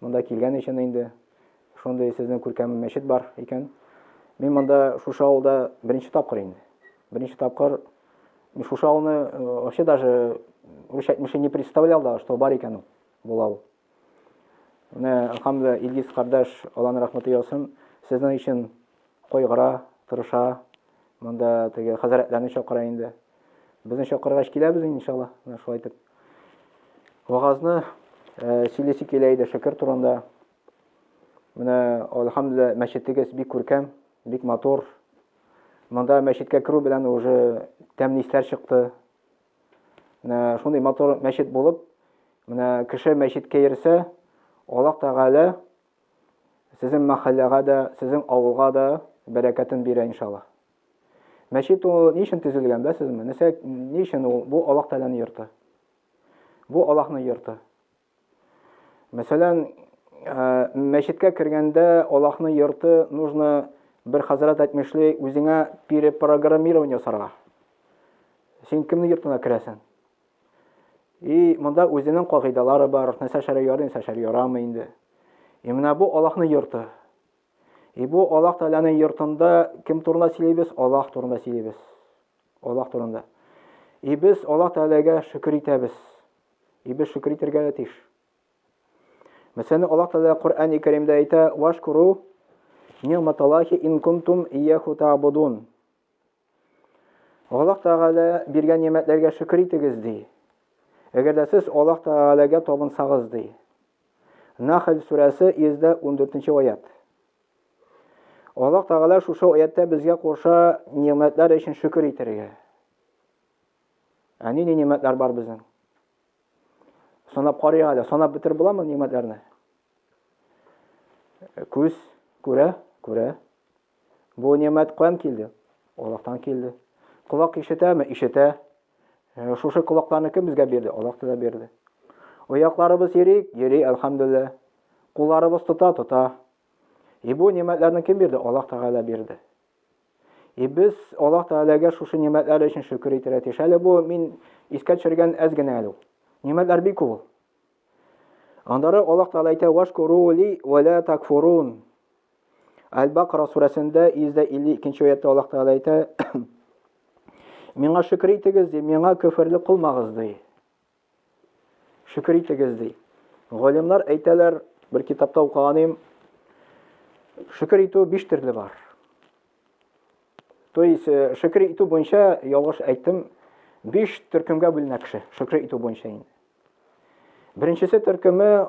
Монда килгән өчен инде шундый сезнең күркәм мәчет бар икән. Мин монда шушы авылда беренче тапкыр инде. Беренче тапкыр мин шушы авылны вообще даже үз әйтмеше не представлял да, что бар икән ул бул авыл. Менә Хамда Илгиз кардәш Алланың рәхмәте яусын, сезнең өчен кайгыра, тырыша. Монда теге хәзрәтләрне чакыра инде. Безне чакыргач киләбез инде иншалла, менә шулай итеп. Вагазны э, сөйлисе килә иде Шөкер турында. Менә алхамдулилла мәчетегез бик күркәм, бик матур. Монда мәчеткә керү белән уже тәмле исләр чыкты. Менә шундый матур мәчет булып, менә кеше мәчеткә йөрсә, Аллаһ Тәгалә сезнең мәхәлләгә дә, сезнең авылга да бәрәкәтен бирә иншалла. Мәчет ул ни өчен төзелгән, беләсезме? Нәрсә, ни өчен ул? Бу Аллаһ Тәгаләнең йорты. Бу Аллаһның йорты. Мәсәлән, э, мәчеткә кергәндә Аллаһның йорты нужно бер хәзрәт әйтмешли, үзеңә перепрограммирование ясарга. Син кемнең йортына керәсең? И монда үзенең кагыйдалары бар, нәрсә шәрә ярый, нәрсә шәрә ярамый инде. И менә бу Аллаһның йорты. И бу Аллаһ Тәгаләнең йортында кем турында сөйлибез? Аллаһ турында сөйлибез. Аллаһ турында. И без Аллаһ Тәгаләгә шөкер итәбез. И без шөкер итәргә дә тиеш. Мәсәлән, Аллаһ Тәгалә Коръәни Кәримдә әйтә: "Вашкуру ни'маталлахи ин кунтум ияху та'будун". Аллаһ Тәгалә биргән нигъмәтләргә шөкер итегез, ди. Әгәр дә сез Аллаһ Тәгаләгә табынсагыз, ди. Нахл сүрәсе 114 аят. Аллаһ Тәгалә шушы аяттә безгә куша нигъмәтләр өчен шөкер итәргә. Ә нинди нигъмәтләр бар безнең? Санап карыйк әле, санап бетереп буламы нигъмәтләрне? Күз күрә, күрә. Бу немәт каян килде? Аллаһтан килде. Колак ишетәме? Ишетә. Э, шушы колакларны кем безгә бирде? Аллаһ Тәгалә бирде. Аякларыбыз йөри, йөри, әлхәмдулилла. Кулларыбыз тота, тота. И бу немәтләрне кем бирде? Аллаһ Тәгалә бирде. И без Аллаһ Тәгаләгә шушы немәтләр өчен шөкер итәргә тиеш. Әле бу мин искә төшергән әз генә әле ул. Немәтләр бик күп ул. Аннары Аллаһ Тәгалә әйтә: "Вашкуру ли ва ла такфурун". Әл-Бакра сүрәсендә 152 нче аятта Аллаһ Тәгалә әйтә: Миңа шөкер итегез, ди, миңа көферлек кылмагыз, ди. Шөкер итегез, ди. Галимнар әйтәләр, бер китапта укыганым, шөкер итү биш төрле бар. То есть, э, шөкер итү буенча ялгыш әйттем, биш төркемгә бүленә кеше, шөкер итү буенча инде. Беренчесе төркеме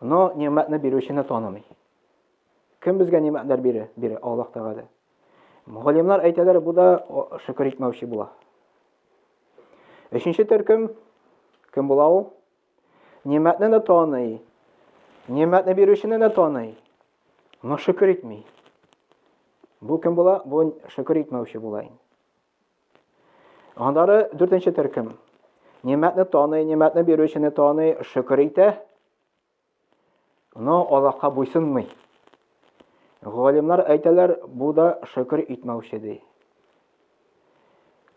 Но нигъмәтне бирүчене танымый. Кем безгә нигъмәтләр бирә? Бирә Аллаһ Тәгалә. Галимнар әйтәләр, бу да шөкер итмәүче була. Өченче төркем кем була ул? Нигъмәтне дә таный. Нигъмәтне бирүчене дә таный. Но шөкер итми. Бу кем була? Бу шөкер итмәүче була инде. Аннары дүртенче төркем. Нимәтне таный, нимәтне бирүчене таный, шөкер итә. Но Аллаһка буйсынмый. Галимнар әйтәләр, бу да шөкер итмәүче ди.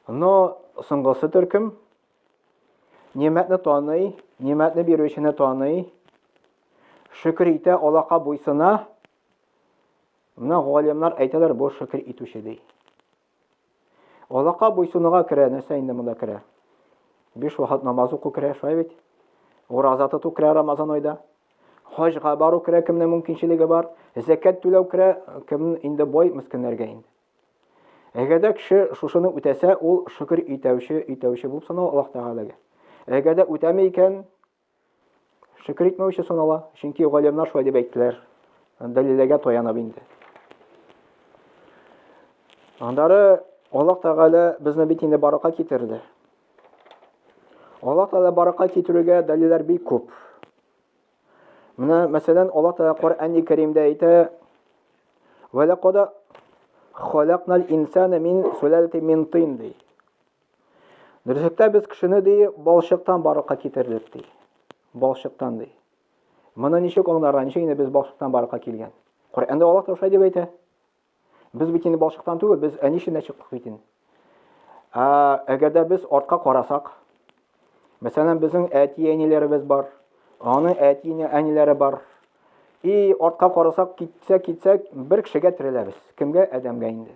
Но соңгысы төркем. Нимәтне таный, нимәтне бирүчене таный, шөкер итә, Аллаһка буйсына. Менә галимнар әйтәләр, бу шөкер итүче ди. Алака буйсынуга керә, нәрсә инде монда керә? Биш вакыт намаз уку керә, шулай бит? Ураза тоту керә Рамазан айда. Хаҗга бару керә, кемнең мөмкинчелеге бар. Зәкәт түләү керә, кем инде бай мескеннәргә инде. Әгәр дә кеше шушыны үтәсә, ул шөкер итәүче, итәүче булып санала Аллаһ Тәгаләгә. Әгәр дә үтәми икән, Шөкер итмәүче санала, чөнки галимнар шулай дип әйттеләр. Дәлилләргә таянып инде. Андары Аллаһ Тәгалә безне бит инде баракка китерде. Аллаһ Тәгалә баракка китерүгә дәлилләр бик күп. Менә, мәсәлән, Аллаһ Тәгалә Коръән-и Кәримдә әйтә: "Ва лакада халакнал инсана мин сулалати мин тин" ди. Дөресектә без кешене ди балчыктан барлыкка китердек ди. Балчыктан ди. Моны ничек аңларга, ничек инде без балчыктан барлыкка килгән? Коръәндә Аллаһ Таушай дип әйтә. Без бит инде балчыктан түгел, без әни эченнән чыктык бит инде. Ә әгәр дә без артка карасак, мәсәлән, безнең әти-әниләребез бар, аның әти-әниләре бар. И артка карасак, китсәк, китсәк, бер кешегә тереләбез. Кемгә? Адәмгә инде.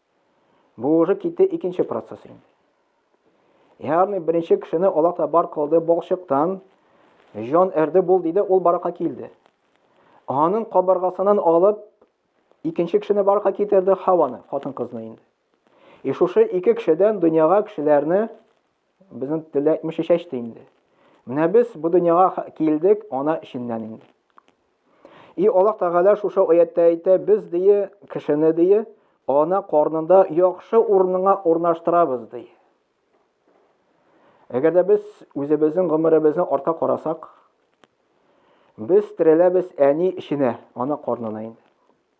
Бу уже китте икенче процесс инде. Ягъни беренче кешене Аллаһ та бар кылды балчыктан, җан әрде бул диде, ул баракка килде. Аның кабыргасыннан алып икенче кешене баракка китерде Хаваны, хатын-кызны инде. И шушы ике кешедән дөньяга кешеләрне Безнең телдә әйтмешә чәчте инде. Менә без бу дөньяга килдек ана эченнән инде. И Аллаһ Тәгалә шушы аятта әйтә, без дие кешене дие ана карнында яхшы урынга урнаштырабыз ди. Әгәр дә без үзебезнең гомеребезне артка карасак, без тереләбез әни эченә, ана карнына инде.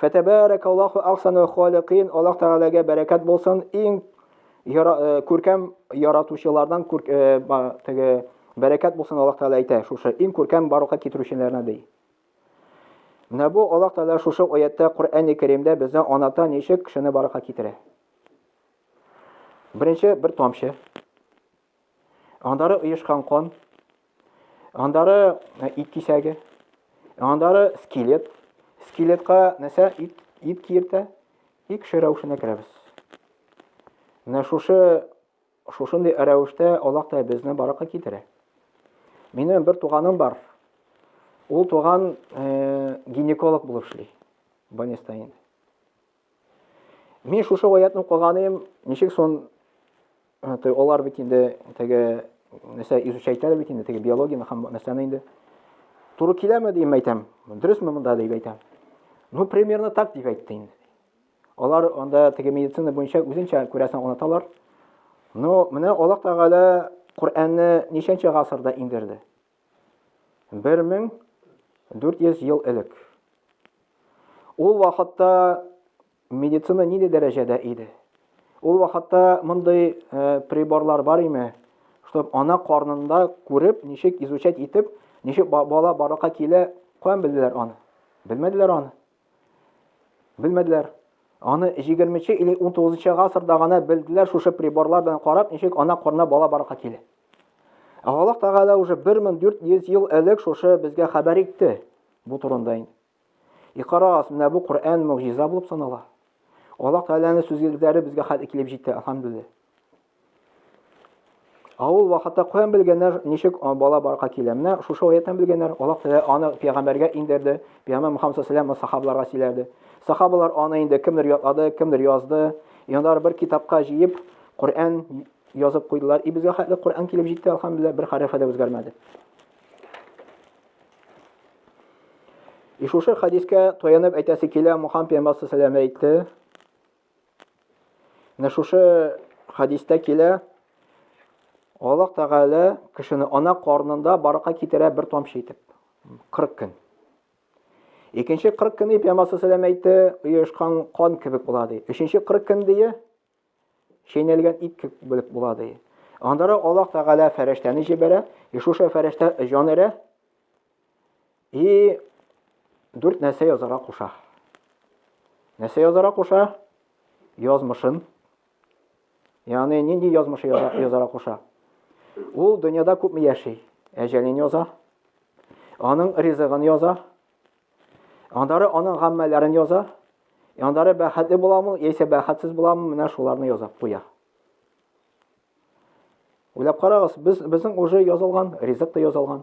Фәтәбәрәк Аллаху ахсану халикин. Аллаһ Тәгаләгә бәрәкәт булсын. Иң э, күркәм яратучылардан күр, э, теге бәрәкәт булсын Аллаһ Тәгалә әйтә. Шушы иң күркәм барлыкка китерүчеләрне ди. Менә бу Аллаһ Тәгалә шушы аятта Коръәнне Кәримдә безне аната ничек кешене баракка китерә. Беренче бер тамчы. Андары оешкан кан, андары э, ит кисәге, андары скелет. Скелетка нәрсә ит, ит киертә, икше рәвешенә керәбез. Менә шушы шушындый рәвештә Аллаһ та безне баракка китерә. Минем бер туганым бар. Ул туган э, гинеколог булып эшли. Банестаин. Мин шушы аятны укыганым, ничек сон алар бит инде теге нәрсә изучайталар бит инде теге биологияне һәм нәрсәне инде туры киләме дип әйтәм. Дөресме монда дип әйтәм. Ну, примерно так дип әйтте инде. Алар анда теге медицина буенча үзенчә күрәсен оныталар. Но менә Аллаһ Тәгалә Коръәнне ничәнче гасырда индерде? 1400 ел элек. Ул вакытта медицина нинди дәрәҗәдә иде? Ул вакытта мондый э, приборлар бар име? Чтоб ана карнында күреп, ничек изучать итеп, ничек бала баракка килә, каян белделәр аны? Белмәделәр аны. Белмәделәр. Аны 20 нче или 19 нчы гасырда гына белделәр шушы приборлар белән карап, ничек ана корына бала барырга килә. Ә Аллаһ Тәгалә уже 1400 ел элек шушы безгә хәбәр итте бу турында инде. Икарагыз, менә бу Коръән мөгъҗиза булып санала. Аллаһ Тәгаләнең сүзләре безгә хәтер килеп җитте, алхамдулиллаһ. Авыл вакытта каян белгәннәр, ничек бала барга килә. Менә шушы аяттан белгәннәр. Аллаһ Тәгалә аны пәйгамбәргә иңдерде. Пәйгамбер Мөхәммәд саллаллаһу сахабаларга сөйләде. Сахабалар аны инде кемдер ятлады, кемдер язды. Яндар бер китапка җыеп, Коръән язып куйдылар. И безгә хәтле Коръән килеп җитте, алхамдулилла, бер хәрефе дә үзгәрмәде. И шушы хадискә таянып әйтәсе килә, Мөхәммәд пәйгамбер саллаллаһу әйтте. Менә шушы хадистә килә, Аллаһ Тәгалә кешене ана карнында баракка китерә бер тамчы итеп. 40 көн. Икенче 40 көн дип Пәйгамбәр саллаллаху әйтте, оешкан кан кебек була ди. Өченче 40 көн дие чәйнәлгән ит кебек була ди. Андара Аллаһ Тәгалә фәрештәне җибәрә, и шушы фәрештә җан өрә. И дүрт нәрсә язара куша. Нәрсә язара куша? Язмышын. Ягъни нинди язмышы язара куша? Ул дөньяда күпме яши? Әҗәлен яза. Аның ризыгын яза. Андары аның гаммәләрен яза. Андары бәхәтле буламы, яисә бәхәтсез буламы, менә шуларны яза куя. Уйлап карагыз, без безнең уже язылган, ризык та язылган.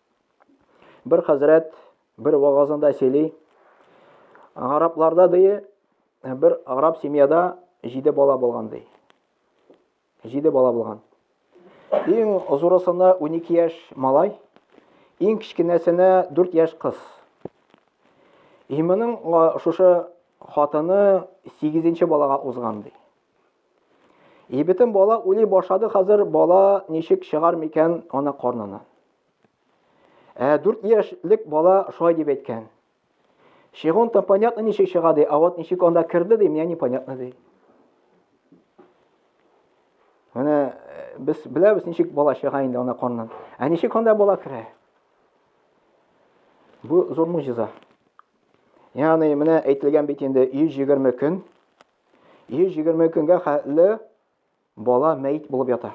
Бер хәзрәт бер вагазында сөйли. Арапларда дие, бер араб семьяда җиде бала булган ди. Җиде бала булган. Иң зурысына 12 яшь малай, иң кечкенәсенә 4 яшь кыз. И моның шушы хатыны 8 балага узган ди. И бөтен бала уйлый башлады хәзер, бала ничек чыгар микән ана карнына. Ә 4 яшьлек бала шулай дип әйткән. Чыгон там понятно ничек чыга ди, а вот ничек анда керде ди, мне непонятно ди. Менә э, без беләбез ничек бала чыга инде ана карнынан. Ә ничек анда бала керә? Бу зур мужиза. Ягъни менә әйтелгән бит инде 120 көн 120 көнгә хәтле бала мәйт булып ята.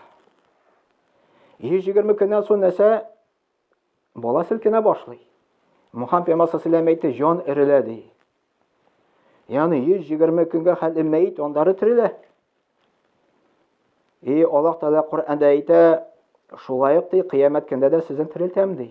120 көннән соң нәрсә? Бала селкенә башлый. Мухаммед пәйгамбәр саллаллаху әйтте, җан эрелә ди. Ягъни 120 көнгә хәтле мәйт андары терелә. И Аллаһ Тәгалә Коръәндә әйтә, шулай ук ди, кыямәт көндә дә сезне терелтәм ди.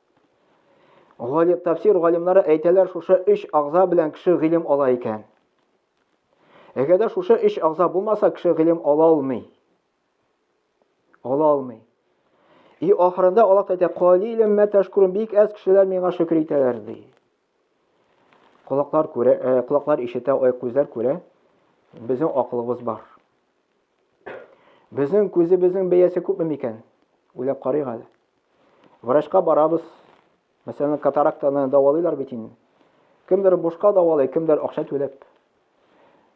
Галим тәфсир галимнары әйтәләр, шушы өч агза белән кеше гыйлем ала икән. Әгәр дә шушы өч агза булмаса, кеше гыйлем ала алмый. Ала алмый. И ахырында Аллаһ әйтә, "Калилем мә ташкурун" бик әз кешеләр миңа шөкер итәләр ди. Колаклар күрә, э, колаклар ишетә, ай күзләр күрә. Безнең акылыбыз бар. Безнең күзебезнең бәясе күпме микән? Уйлап карыйк әле. Врачка барабыз. Мәсәлән, катарактаны давалыйлар бит инде. Кемдер бушка давалый, кемдер акча түләп.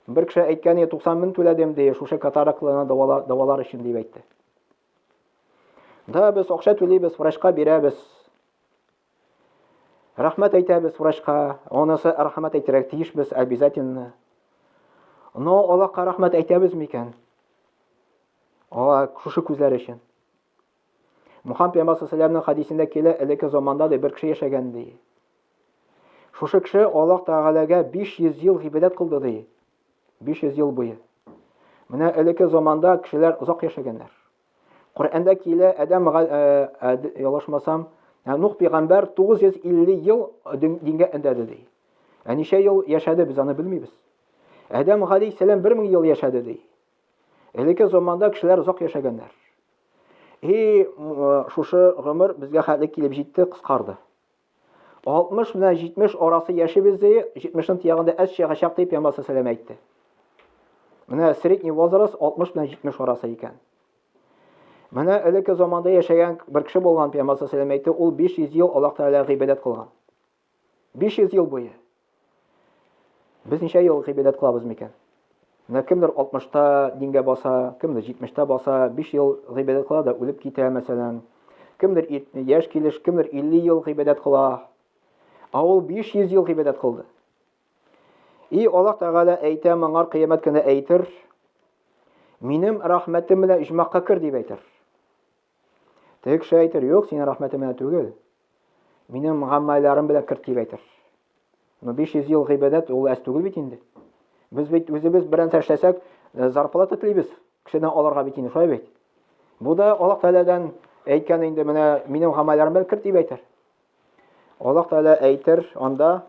Бер кеше әйткән, 90 мең түләдем ди, шушы катараклыны давалар, давалар өчен дип әйтте. Да, без акча түлибез, врачка бирәбез. Рәхмәт әйтәбез врачка. Онысы рәхмәт әйтәргә тиешбез обязательно. Но Аллаһка рәхмәт әйтәбез микән? Ала шушы күзләр өчен. Мухаммед пәйгамбәр саллаллаху хәдисендә килә, элекке заманда да бер кеше яшәгән ди. Шушы кеше Аллаһ Тәгаләгә 500 ел гыйбадәт кылды ди. 500 ел буе. Менә элекке заманда кешеләр озак яшәгәннәр. Коръәндә килә, Адәм ялашмасам, ә Нух пәйгамбәр 950 ел дингә эндәде ди. Ә ничә ел яшәде, без аны белмибез. Адәм галәйһиссәлам 1000 ел яшәде ди. Элекке заманда кешеләр озак яшәгәннәр. И шушы гомер безгә хәтле килеп җитте, кыскарды. 60 белән 70 арасы яшибез ди, 70-ның тиягендә әз чыгачак дип Ямасы сәлам әйтте. Менә средний возраст 60 белән 70 арасы икән. Менә элекке заманда яшәгән бер кеше булган Пәйгамбәр сәлам әйтте, ул 500 ел Аллаһ Тәгалә гыйбадәт кылган. 500 ел буе без ничә ел гыйбадәт кылабыз микән? Менә кемдер 60-та дингә баса, кемдер 70-та баса, 5 ел гыйбадәт кыла да үлеп китә, мәсәлән. Кемдер яшь килеш, кемдер 50 ел гыйбадәт кыла. Ә ул 500 ел гыйбадәт кылды. И Аллаһ Тәгалә әйтә, моңар кыямәт көне әйтер, минем рәхмәтем белән иҗмакка кер дип әйтер. Теге кеше әйтер, юк, синең рәхмәтең менә түгел. Минем гаммайларым белән керт дип әйтер. Но 500 ел гыйбадәт ул әз түгел бит инде. Без бит үзебез белән эшләсәк, э, зарплата телибез. Кешедән аларга бит инде шулай бит. Бу да Аллаһ Тәгаләдән әйткән инде менә минем гаммайларым белән керт дип әйтер. Аллаһ Тәгалә әйтер анда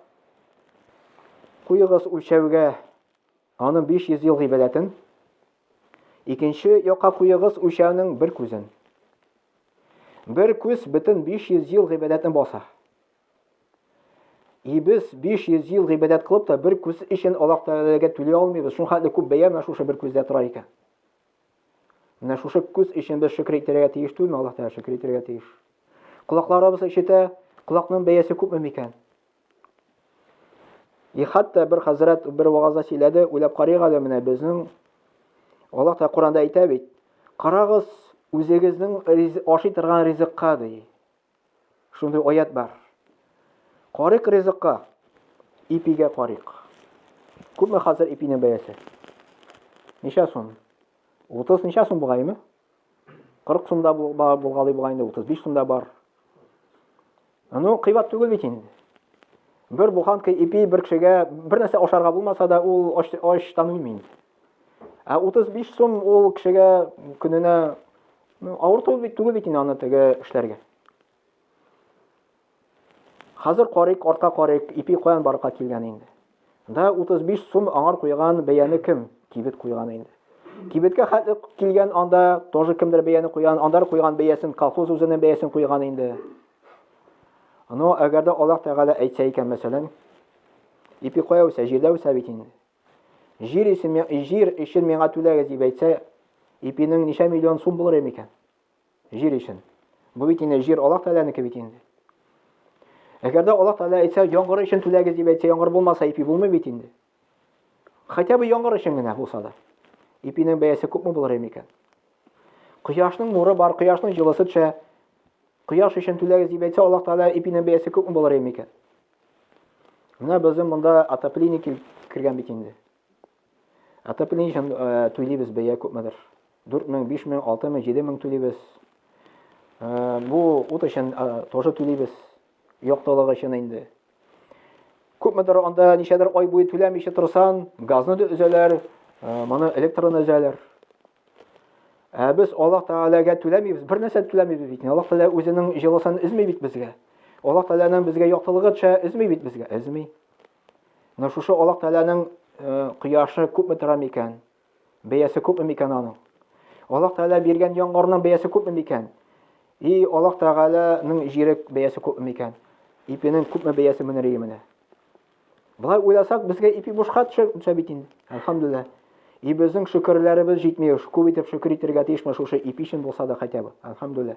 куйыгыз үлчәүгә Аның 500 ел гыйбадәтен, икенче якка куегыз үлчәүнең бер күзен. Бер күз бөтен 500 ел гыйбадәтне баса. И без 500 ел гыйбадәт кылып та бер күз өчен Аллаһ Тәгаләгә түли алмыйбыз. Шуңа хәтле күп бәя менә шушы бер күздә тора икән. Менә шушы күз өчен без шөкер итәргә тиеш түгелме? Аллаһ Тәгаләгә шөкер итәргә тиеш. Колакларыбыз ишетә, колакның бәясе күпме микән? И хәтта бер хәзрәт бер вагазда сөйләде, уйлап карыйк әле менә безнең Аллаһ та Коранда әйтә бит. Карагыз, үзегезнең ашый торган ризыкка ди. Шундый аят бар. Карык ризыкка, ипигә карык. Күпме хәзер ипинең бәясе? Ничә сум? 30 ничә сум бугаймы? 40 сум да булгалый була инде, 35 сум да бар. Ну, кыйбат түгел бит инде. Бер буханка ипи бер кешегә бер нәрсә ашарга булмаса да, ул ач, ачтан үлми. Ә 35 сум ул кешегә көненә ну, авыр түгел бит, түгел бит инде аны теге эшләргә. Хәзер карыйк, арка карыйк, ипи каян барлыкка килгән инде? Да 35 сум аңар куйган бәяне кем? Кибет куйган инде. Кибеткә хәтле килгән анда тоже кемдер бәяне куйган, андар куйган бәясен колхоз үзенең бәясен куйган инде. Но әгәр дә Аллаһ Тәгалә әйтсә икән, мәсәлән, ипи кая үсә, җирдә үсә бит инде. Җир өчен, җир өчен миңа түләгез дип әйтсә, ипинең ничә миллион сум булыр микән? Җир өчен. Бу бит инде җир Аллаһ Тәгаләнеке бит инде. Әгәр дә Аллаһ Тәгалә әйтсә, яңгыр өчен түләгез дип әйтсә, яңгыр булмаса, ипи булмый бит инде. Хотя бы яңгыр өчен генә булса да. Ипинең бәясе күпме булыр иде микән? Кояшның нуры бар, кояшның җылысы төшә. Кояш өчен түләгез дип әйтсә, Аллаһ Тәгалә ипинең бәясе күпме булыр иде микән? Менә безнең монда отопление кергән бит инде. Отопление өчен э, түлибез бәя күпмедер. 4 мең, 5 мең, 6 мең, 7 мең түлибез. Э, бу ут өчен э, тоже түлибез. Яктылык өчен инде. Күпмедер анда ничәдер ай буе түләмичә торсан, газны да өзәләр, моны электроны өзәләр. Ә без Аллаһ Тәгаләгә түләмибез, бер нәрсә түләмибез бит. Аллаһ Тәгалә үзенең җылысын өзми бит безгә. Аллаһ Тәгаләнең безгә яктылыгы төшә, өзми бит безгә, өзми. Менә шушы Аллаһ Тәгаләнең э, кояшы күпме тора микән? Бәясе күпме микән аның? Аллаһ Тәгалә биргән яңгырның бәясе күпме микән? И Аллаһ Тәгаләнең җире бәясе күпме микән? Ипенең күпме бәясе менер менә? Болай уйласак, безгә ипи бушка төшә бит инде. Әлхәмдулилла. И безнең шөкерләребез җитми, күп итеп шөкер итәргә тиешме шушы ипи өчен булса да хотя бы. Әлхәмдулилла.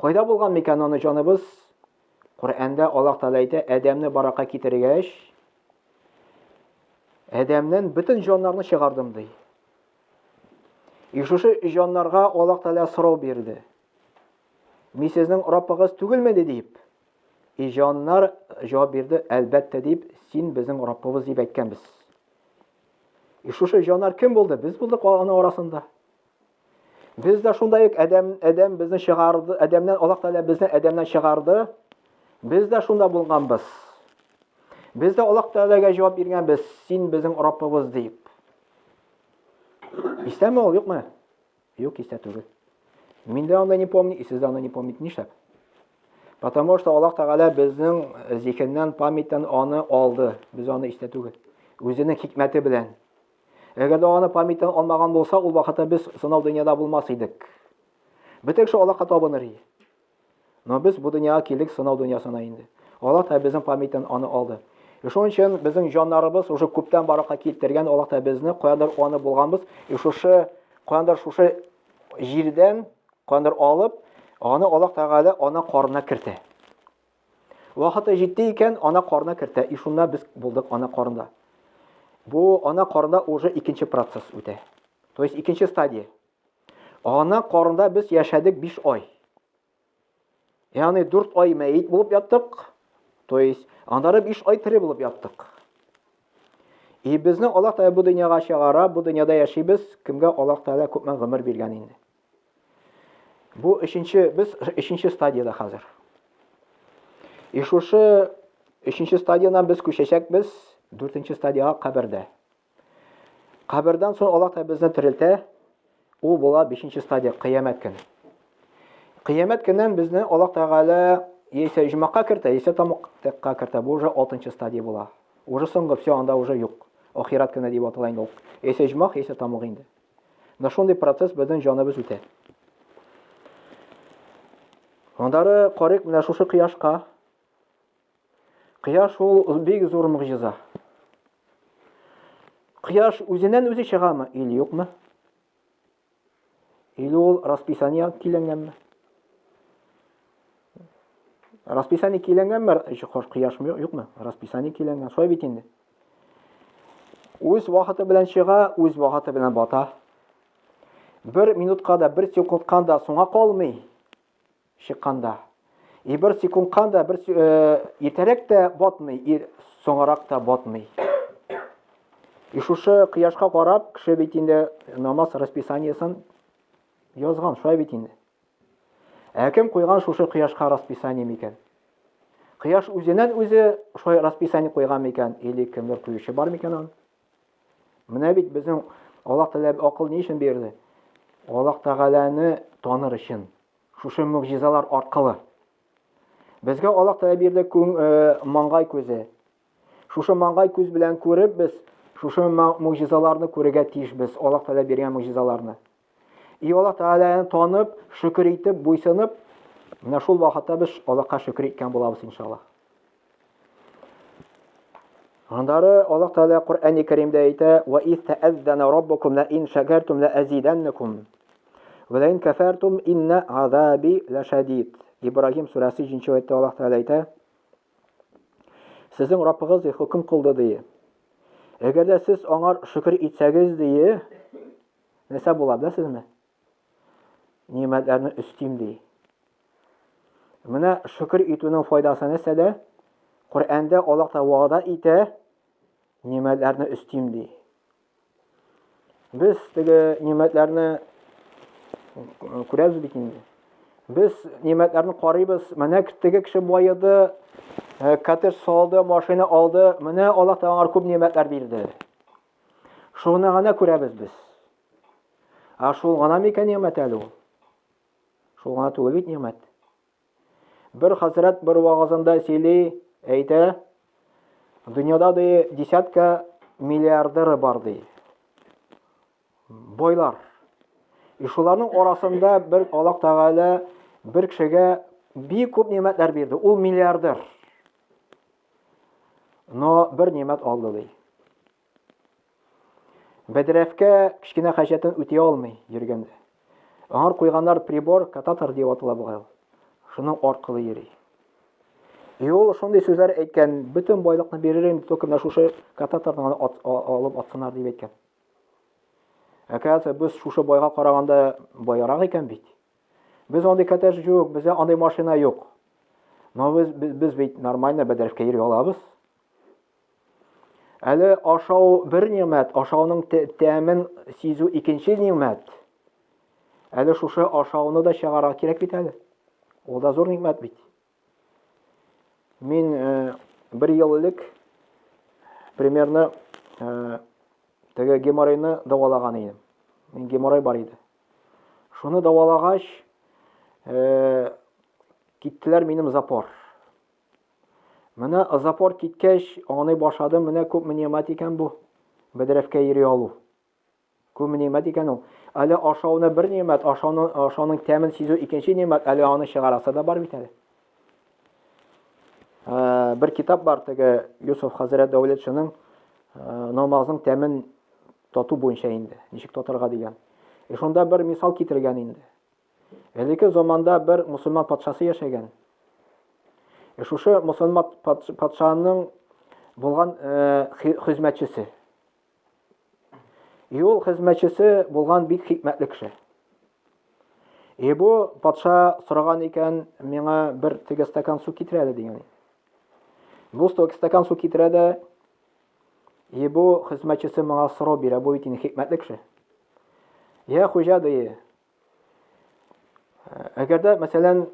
Кайда булган микән аны җаныбыз? Коръәндә Аллаһ Тәгалә әйтә, Адәмне баракка китергәч, Адәмнән бөтен җаннарны чыгардым ди. И шушы җаннарга Аллаһ Тәгалә сорау бирде. Мин сезнең Раббыгыз түгелме дип. И җаннар җавап бирде, әлбәттә дип, син безнең Раббыбыз дип әйткәнбез. И шушы җаннар кем булды? Без булдык аның арасында. Без дә шундай ук Адәм Адәм безне чыгарды, Адәмнән Аллаһ Тәгалә безне Адәмнән чыгарды. Без дә шунда булганбыз. Без дә Аллаһ Тәгаләгә җавап биргәнбез, син безнең Раббыбыз дип. Истәме ул, юкмы? Юк, истә түгел. Мин дә аны не помню, и сез дә аны не помните, нишләп? Потому что Аллаһ Тәгалә безнең зихеннән, памяттан аны алды. Без аны истә түгел. Үзенең хикмәте белән. Әгәр дә аны памяттан алмаган булса, ул вакытта без сынау дөньяда булмас идек. Бөтен кеше Аллаһка табыныр иде. Но без бу дөньяга килдек сынау дөньясына инде. Аллаһ та безнең памяттан аны алды. И шуның өчен безнең җаннарыбыз уже күптән баракка китергән Аллаһ та безне каяндыр аны булганбыз. И шушы каяндыр шушы җирдән каяндыр алып, аны Аллаһ Тәгалә ана карнына кертә. Вакыты җитте икән, ана карына кертә. И шунда без булдык ана карында. Бу ана карында уже икенче процесс үтә. То есть икенче стадия. Ана карында без яшәдек 5 ай. Ягъни 4 ай мәйт булып яттык. То есть аннары 5 ай тере булып яттык. И безне Аллаһ Тәгалә бу дөньяга чыгара, бу дөньяда яшибез. Кемгә Аллаһ Тәгалә күпме гомер биргән инде. Бу өченче, без өченче стадияда хәзер. И шушы өченче стадиянан без күчәчәкбез дүртенче стадияга кабердә. Кабердан соң Аллаһ та безне терелтә, ул була бишенче стадия, кыямәт көне. Кыямәт көннән безне Аллаһ Тәгалә яисә җомака кертә, яисә тамакка кертә. Бу уже алтынчы стадия була. Уже соңгы, все, анда уже юк. Ахират көне дип атала инде ул. Яисә җомак, яисә тамак инде. Менә шундый процесс безнең җаныбыз үтә. Андары карык менә шушы кояшка. Кояш ул бик зур мөгъҗиза. Кояш үзеннән үзе чыгамы или юкмы? Или ул расписание киләнгәнме? Расписание киләнгәнме? Кояшмы юкмы? Расписание киләнгән. Шулай бит инде. Үз вакыты белән чыга, үз вакыты белән бата. Бер минутка да, бер секундка да соңа калмый чыкканда. И бер секундка да, бер э, иртәрәк тә батмый, и соңарак та батмый. И шушы кояшка карап, кеше бит инде намаз расписаниесен язган, шулай бит инде. Ә кем куйган шушы кояшка расписание микән? Кояш үзеннән үзе шулай расписание куйган микән или кемдер куючы бар микән аны? Менә бит безнең Аллаһ Тәгалә акыл ни өчен бирде? Аллаһ Тәгаләне таныр өчен. Шушы мөгъҗизалар аркылы. Безгә Аллаһ Тәгалә бирде күң, э, маңгай күзе. Шушы маңгай күз белән күреп без шушы могҗизаларны күрергә тиешбез, Аллаһ Тәгалә биргән могҗизаларны. И Аллаһ Тәгаләне танып, шөкер итеп, буйсынып, менә шул вакытта без Аллаһка шөкер иткән булабыз иншаллаһ. Аннары Аллаһ Тәгалә Коръәни Кәримдә әйтә: "Ва истәәззана раббукум ла ин шакартум ла азиданнакум ва ла ин кафартум инна азаби лашадид". Ибрагим сүрәсе 3 нче аятта Аллаһ Тәгалә әйтә: Сезнең Раббыгыз ди, хөкем кылды ди. Әгәр дә сез аңар шөкер итсәгез ди, нәрсә була беләсезме? Нимәтләрне өстим ди. Менә шөкер итүнең файдасы нәрсәдә? Коръәндә Аллаһ та вәгъдә итә, нимәтләрне өстим ди. Без теге нимәтләрне күрәбез бит инде. Без нимәтләрне карыйбыз. Менә теге кеше байыды, э, коттедж салды, машина алды. Менә Аллаһ Тәгалә күп нимәтләр бирде. Шуны гына күрәбез без. Ә шул гына микән нимәт әле ул? Шул гына түгел бит нимәт. Бер хәзрәт бер вагазында сөйли, әйтә, дөньяда ди десятка миллиардеры бар ди. Байлар. И шуларның арасында бер Аллаһ Тәгалә бер кешегә бик күп нигъмәтләр бирде. Ул миллиардер. Но бер нигъмәт алды ди. Бәдрәфкә кечкенә хаҗәтен үти алмый йөргәндә. Аңар куйганнар прибор, кататор дип атала бугай ул. Шуның аркылы йөри. И ул шундый сүзләр әйткән, бөтен байлыкны биререм, только менә шушы кататорны гына ат, алып атсыннар дип әйткән. Әкәсе без шушы байга караганда байрак икән бит. Без андый коттедж юк, бездә андый машина юк. Но без, без, без бит нормально бәдрәфкә йөри алабыз. Әле ашау бер нигъмәт, ашауның тәмен сизү икенче нигъмәт. Әле шушы ашауны да чыгарга кирәк бит әле. Ул да зур нигъмәт бит. Мин э, бер ел элек примерно э, теге геморройны дәвалаган идем. Мин геморрой бар иде. Шуны дәвалагач, э, киттеләр минем запор. Менә озапорт киткәч, аңлый башладым, менә күпме нигъмәт икән бу, бәдрәфкә йөри алу. Күпме нигъмәт икән ул. Әле ашауны бер нигъмәт, ашауны, ашауның тәмен сизү икенче нигъмәт, әле аны чыгарасы да бар бит әле. Ә, бер китап бар теге Юсуф хәзрәт Дәүләтшинең намазның тәмен тату буенча инде, ничек татырга дигән. Э, шунда бер мисал китергән инде. Элекке заманда бер мусульман патшасы яшәгән. Э, шушы мусульман патшаның булган э, хезмәтчесе. И ул хезмәтчесе булган бик хикмәтле кеше. И бу патша сораган икән, миңа бер теге стакан су китерә әле дигән. Бу стакан су китерә дә, и бу хезмәтчесе моңа сорау бирә, бу бит инде хикмәтле кеше. Я хуҗа ди, Әгәр дә, мәсәлән,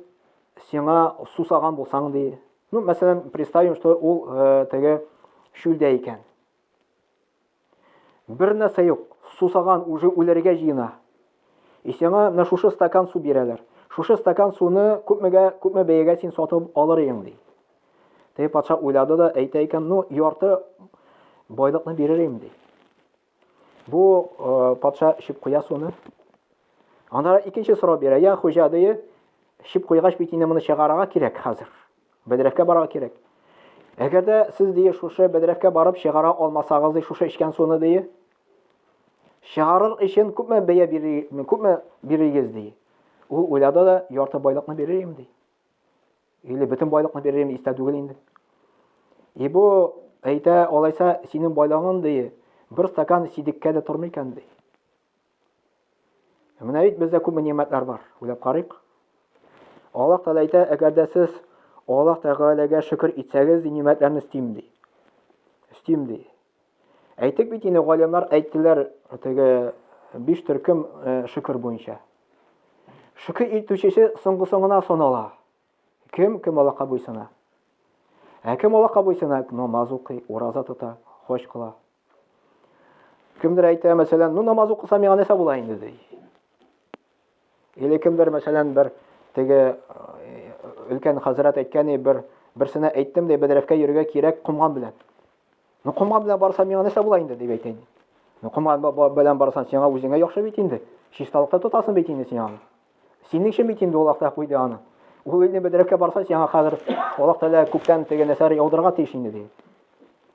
сиңа сусаган булсаң ди, ну, мәсәлән, представим, что ул э, теге шүлдә икән. Бер нәрсә юк, сусаган уже үләргә җыена. И сиңа менә шушы стакан су бирәләр. Шушы стакан суны күпмегә, күпме бәягә син сатып алыр идең ди. Теге патша уйлады да әйтә икән, ну, ярты байлыкны бирер идем ди. Бу патша эчеп куя суны. Анда икенче сорау бирә. Я хуҗа дие, эчеп куйгач бит инде моны чыгарырга кирәк хәзер. Бәдрәфкә барырга кирәк. Әгәр дә сез дие шушы бәдрәфкә барып чыгара алмасагыз, дие шушы эчкән суны дие. Чыгарыр өчен күпме бәя бирегез, күпме бирегез дие. Ул уйлады да ярты байлыкны бирер идем ди. Или бөтен байлыкны биререм истә түгел инде. И бу әйтә, алайса синең байлыгың ди, бер стакан сидеккә дә тормый икән ди. Менә бит бездә күп нимәтләр бар. Уйлап карыйк. Аллаһ Тәгалә әйтә, әгәр дә сез Аллаһ Тәгаләгә шөкер итсәгез, нимәтләрне истим ди. Истим ди. Әйтик бит инде, галимнар әйттеләр, теге биш төркем э, шөкер буенча. Шөкер итүчесе соңгысыңына санала. Кем кем Аллаһка буйсына? Ә кем Аллаһка буйсына? Намаз укый, ураза тота, хош кыла. Кемдер әйтә, мәсәлән, ну намаз укысам миңа нәрсә була инде ди. Или кемдер, мәсәлән, бер теге өлкән хәзрәт әйткәни, бер берсенә әйттем дә, бәдрәфкә йөрергә кирәк комган белән. Ну комган белән барсам миңа нәрсә була инде дип әйтә. Ну комган белән барсаң сиңа үзеңә яхшы бит инде. Чисталыкта тотасың бит инде син аны. Синең өчен бит инде ул Аллаһ куйды аны. Ул инде бәдрәфкә барса сиңа хәзер Аллаһ Тәгалә күктән теге нәрсәләр яудырырга тиеш инде ди.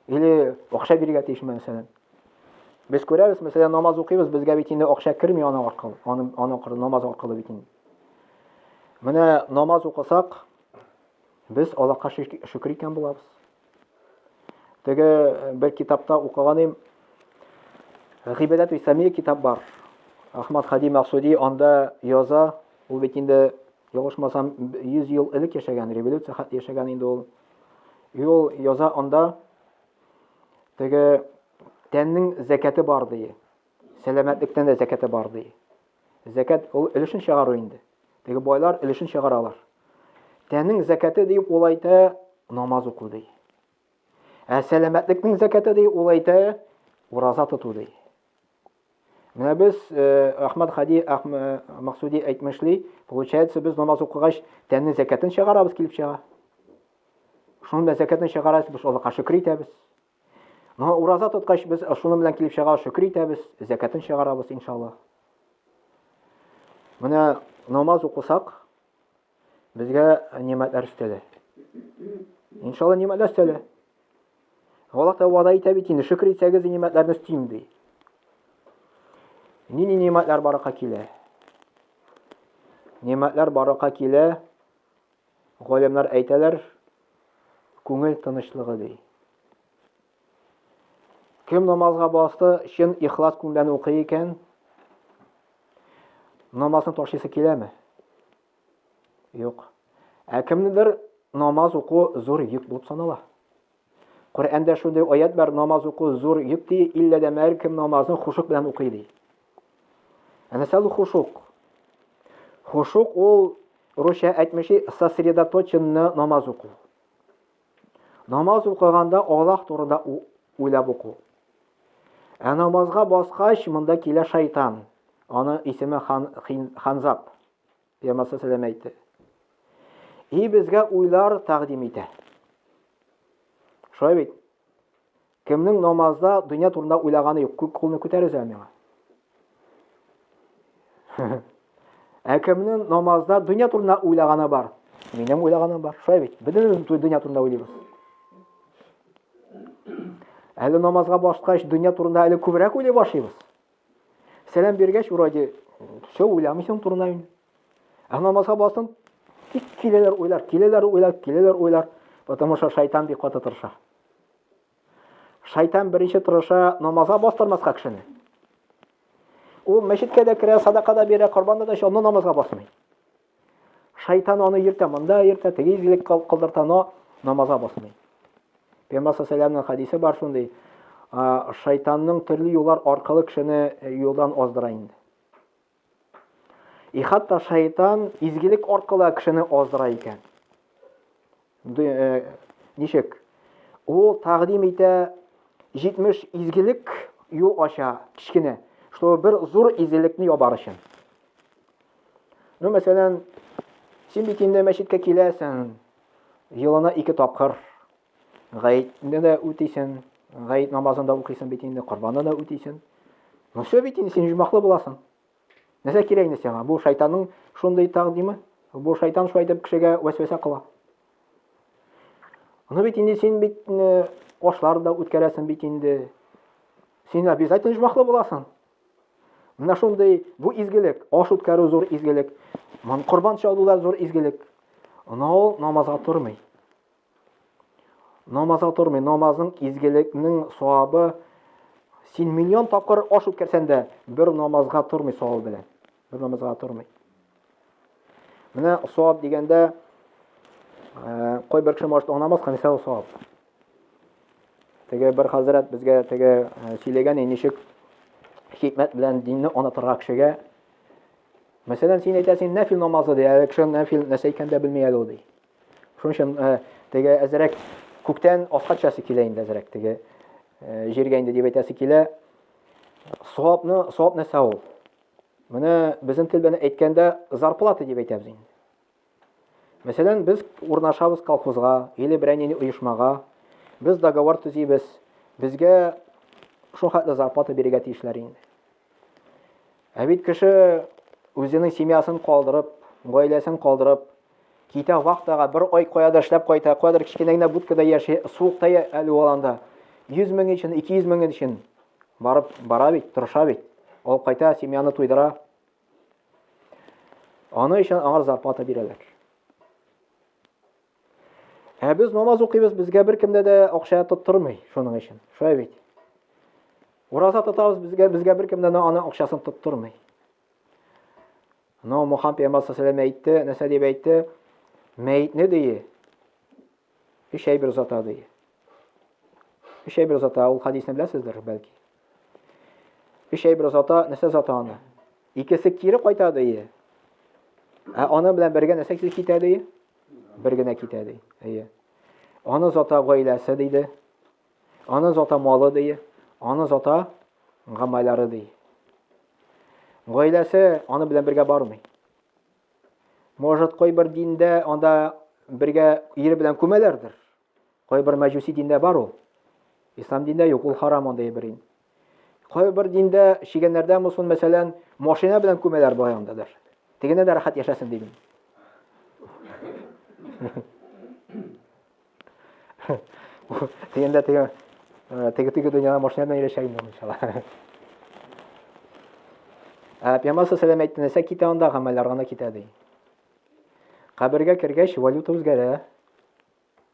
Или акча бирергә тиешме мәсәлән. Без күрәбез, мәсәлән, намаз укыйбыз, безгә бит инде акча керми аның аркылы, аның аның аркылы намаз аркылы бит инде. Менә намаз укысак, без Аллаһка шөкер икән булабыз. Теге э, бер китапта укыган идем. Гыйбадат ва самия китап бар. Ахмад Хади Максуди анда яза, ул бит инде ялгышмасам 100 ел элек яшәгән, революция яшәгән инде ул. И ул яза анда Теге тәннең зәкәте бар ди. Сәламәтлектән дә зәкәте бар ди. Зәкәт ул өлешен чыгару инде. Теге байлар өлешен чыгаралар. Тәннең зәкәте дип ул әйтә, намаз уку ди. Ә сәламәтлекнең зәкәте ди ул әйтә, ураза тоту ди. Менә без э, Ахмад Хади э, Максуди әйтмешли, получается, без намаз укыгач, тәнне зәкәтен чыгарабыз килеп чыга. Шуның белән зәкәтен чыгарабыз, без Аллаһка шөкер итәбез. Но ураза тоткач, без шуның белән килеп чыга шөкер итәбез, зәкәтен чыгарабыз, иншаллаһ. Менә намаз укысак, Безгә нигъмәтләр өстәде. Иншалла нигъмәтләр өстәде. Аллаһ та вада итә бит инде, шөкер итсәгез нигъмәтләрне өстим ди. Нинди нигъмәтләр баракка килә? Нигъмәтләр баракка килә. Галимнәр әйтәләр, күңел тынычлыгы ди. Кем намазга басты, чын ихлас күңелдән укый икән, намазны ташлыйсы киләме? Юк. Ә кемнедер намаз уку зур йөк булып санала. Коръәндә шундый аят бар, намаз уку зур йөк ди, иллә дә мәр кем намазны хушук белән укый ди. Әнә сәл хушук. Хушук ул русча әйтмеши сосредоточенно намаз уку. Намаз укыганда Аллаһ турында уйлап уку. Ә намазга баскач, монда килә шайтан. Аны исеме хан, хин, Ханзап. Пәйгамбәр сәләм әйтте. И безгә уйлар тәкъдим итә. Шулай бит. Кемнең намазда дөнья турында уйлаганы юк, күк кулны күтәрегез әле миңа. Ә кемнең намазда дөнья турында уйлаганы бар? Минем уйлаганым бар. Шулай бит. Бөтенебез дөнья турында уйлыйбыз. Әле намазга башкач, дөнья турында әле күбрәк уйлый башлыйбыз. Сәлам биргәч, вроде, все уйламыйсың турында инде. Ә намазга бассаң, тик киләләр уйлар, киләләр уйлар, киләләр уйлар, потому что шайтан бик каты тырыша. Шайтан беренче тырыша намазга бастырмаска кешене. Ул мәчеткә дә керә, садака да бирә, корбан да чалына, намазга басмый. Шайтан аны йөртә, монда йөртә, теге изгелек кылдырта, но намазга басмый. Пәйгамбер саллаллаху хадисе бар шундый, шайтанның төрле юллар аркылы кешене юлдан аздыра инде. И хәтта шайтан изгелек аркылы кешене аздыра икән. Э, ничек? Ул тәкъдим итә 70 изгелек юл ача кичкене, чтобы бер зур изгелекне ябар өчен. Ну, мәсәлән, син бит инде мәчеткә киләсең, елына ике тапкыр, Гаетне дә үтисен, гает намазын да укыйсын бит инде, корбанны да үтисен. Ну все бит инде, син җумаклы буласың. Нәрсә кирәк инде сиңа? Бу шайтанның шундый тәкъдиме. Бу шайтан шулай итеп кешегә вәсвәсә кыла. Ну бит инде син бит э, ашлар да үткәрәсең бит инде. Син обязательно җумаклы буласың. Менә шундый бу изгелек, аш үткәрү зур изгелек. Мон корбан чалу да зур изгелек. Ул намазга тормый. Намазга тормый, намазның изгелекнең савабы син миллион тапкыр аш үткәрсәң дә бер намазга тормый савабы белән. Бер намазга тормый. Менә саваб дигәндә э, кой бер кеше машта намаз кылса нисә саваб. Теге бер хәзрәт безгә теге э, сөйләгән ничек хикмәт белән динне онытырга кешегә. Мәсәлән, син әйтәсең, нәфил намазы ди, ә кеше нәфил нәрсә икәнен дә белми әле ул ди. Шуның өчен э, теге әзрәк күктән аска төшәсе килә инде әзрәк теге э, җиргә инде дип әйтәсе килә. Савапны, савап нәрсә ул? Менә безнең тел белән әйткәндә зарплата дип әйтәбез инде. Мәсәлән, без урнашабыз колхозга, или берәр нинди оешмага, без договор төзибез, безгә шул хәтле зарплата бирергә тиешләр инде. Ә бит кеше үзенең семьясын калдырып, гаиләсен калдырып, Китә вахтага, бер ай каядыр эшләп кайта, каядыр кечкенә генә будкада яши, суыкта әле ул анда. 100 мең өчен, 200 мең өчен барып бара бит, тырыша бит. Ул кайта, семьяны туйдыра. Аны өчен аңар зарплата бирәләр. Ә без намаз укыйбыз, безгә беркемдә дә акча тоттырмый шуның өчен. Шулай бит. Ураза тотабыз, безгә безгә беркемдә дә аны акчасын тоттырмый. Анау Мухаммед пәйгамбәр саллаллаху әйтте, нәрсә дип әйтте? Мәйтне дие. Өч әйбер озата дие. Өч әйбер озата, ул хадисны беләсездер, бәлки. Өч әйбер озата, нәрсә озата аны? Икесе кире кайта дие. Ә аны белән бергә нәрсә китә дие? Бер генә китә дие. Әйе. Аны озата гаиләсе диде. Аны зата малы ди, аны зата гамайлары ди. Гаиләсе аны белән бергә бармый. Может, кайбер диндә анда бергә ире белән күмәләрдер. Кайбер мәҗүси диндә бар ул. Ислам диндә юк, ул харам андый бер ин. Кайбер диндә чигәннәрдә мусын, мәсәлән, машина белән күмәләр баянда да. Тегенә дә рәхәт яшәсен дидем. Тегендә теге э, теге теге дөньяда машина белән яшәшә инде иншалла. Ә Пәйгамбәр сәлам әйтте, нәрсә китә анда гамәлләр гына китә ди. Кабергә кергәч валюта үзгәрә.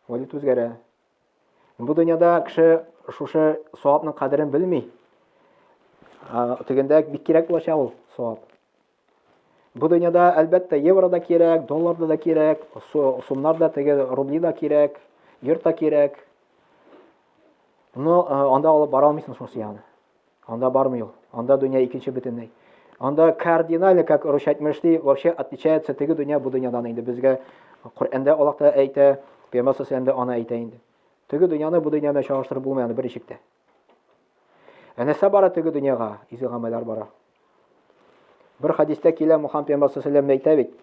Валюта үзгәрә. Бу дөньяда кеше шушы савапның кадерен белми. Тегендә бик кирәк булачак ул савап. Бу дөньяда әлбәттә евро да кирәк, доллар да кирәк, сумнар да теге рубли да кирәк, йорт та кирәк. Но анда алып бара алмыйсың шуны ягына. Анда бармый ул. Анда дөнья икенче бөтенләй. Анда кардинально, как Русь әйтмеш ди, вообще отличается теге дөнья бу дөньядан инде. Безгә Коръәндә Аллаһ та әйтә, Пәйгамбәр саллаллаху дә аны әйтә инде. Теге дөньяны бу дөнья белән чагыштырып булмый аны берничек тә. Ә нәрсә бара теге дөньяга? Изге гамәлләр бара. Бер хадистә килә Мухаммед пәйгамбер саллаллаху әйтә бит.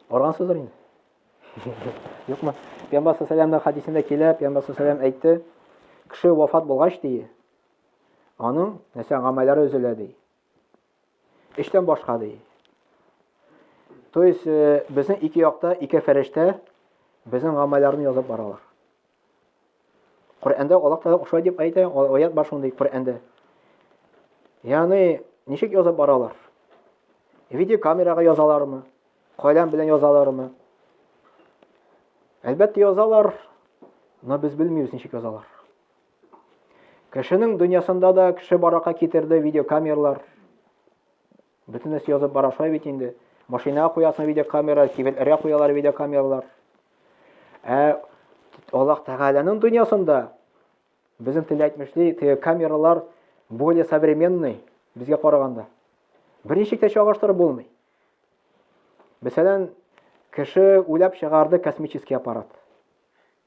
Аргансыздыр инде. Юкмы? Пәйгамбәр саллаллаху хадисендә килә, пәйгамбәр саллаллаху әйтте, кеше вафат булгач ди, аның нәрсә гамәлләре өзелә ди. Эштән башка ди. То есть э, безнең ике якта ике фәрештә безнең гамәлләрне язып баралар. Коръәндә Аллаһ Тәгалә ошай дип әйтә, аят бар шундый Коръәндә. Ягъни, ничек язып баралар? Видеокамерага язалармы? Каләм белән язалармы? Әлбәттә язалар, но без белмибез ничек язалар. Кешенең дөньясында да кеше барака китерде видеокамерлар. Бөтен эш язып бара шулай бит инде. Машинага куясың видеокамера, кибетләргә куялар видеокамералар. Ә Аллаһ Тәгаләнең дөньясында безнең телдә әйтмешли, теге камералар более современный безгә караганда. Берничек тә чагыштырып булмый. Мәсәлән, кеше уйлап чыгарды космический аппарат.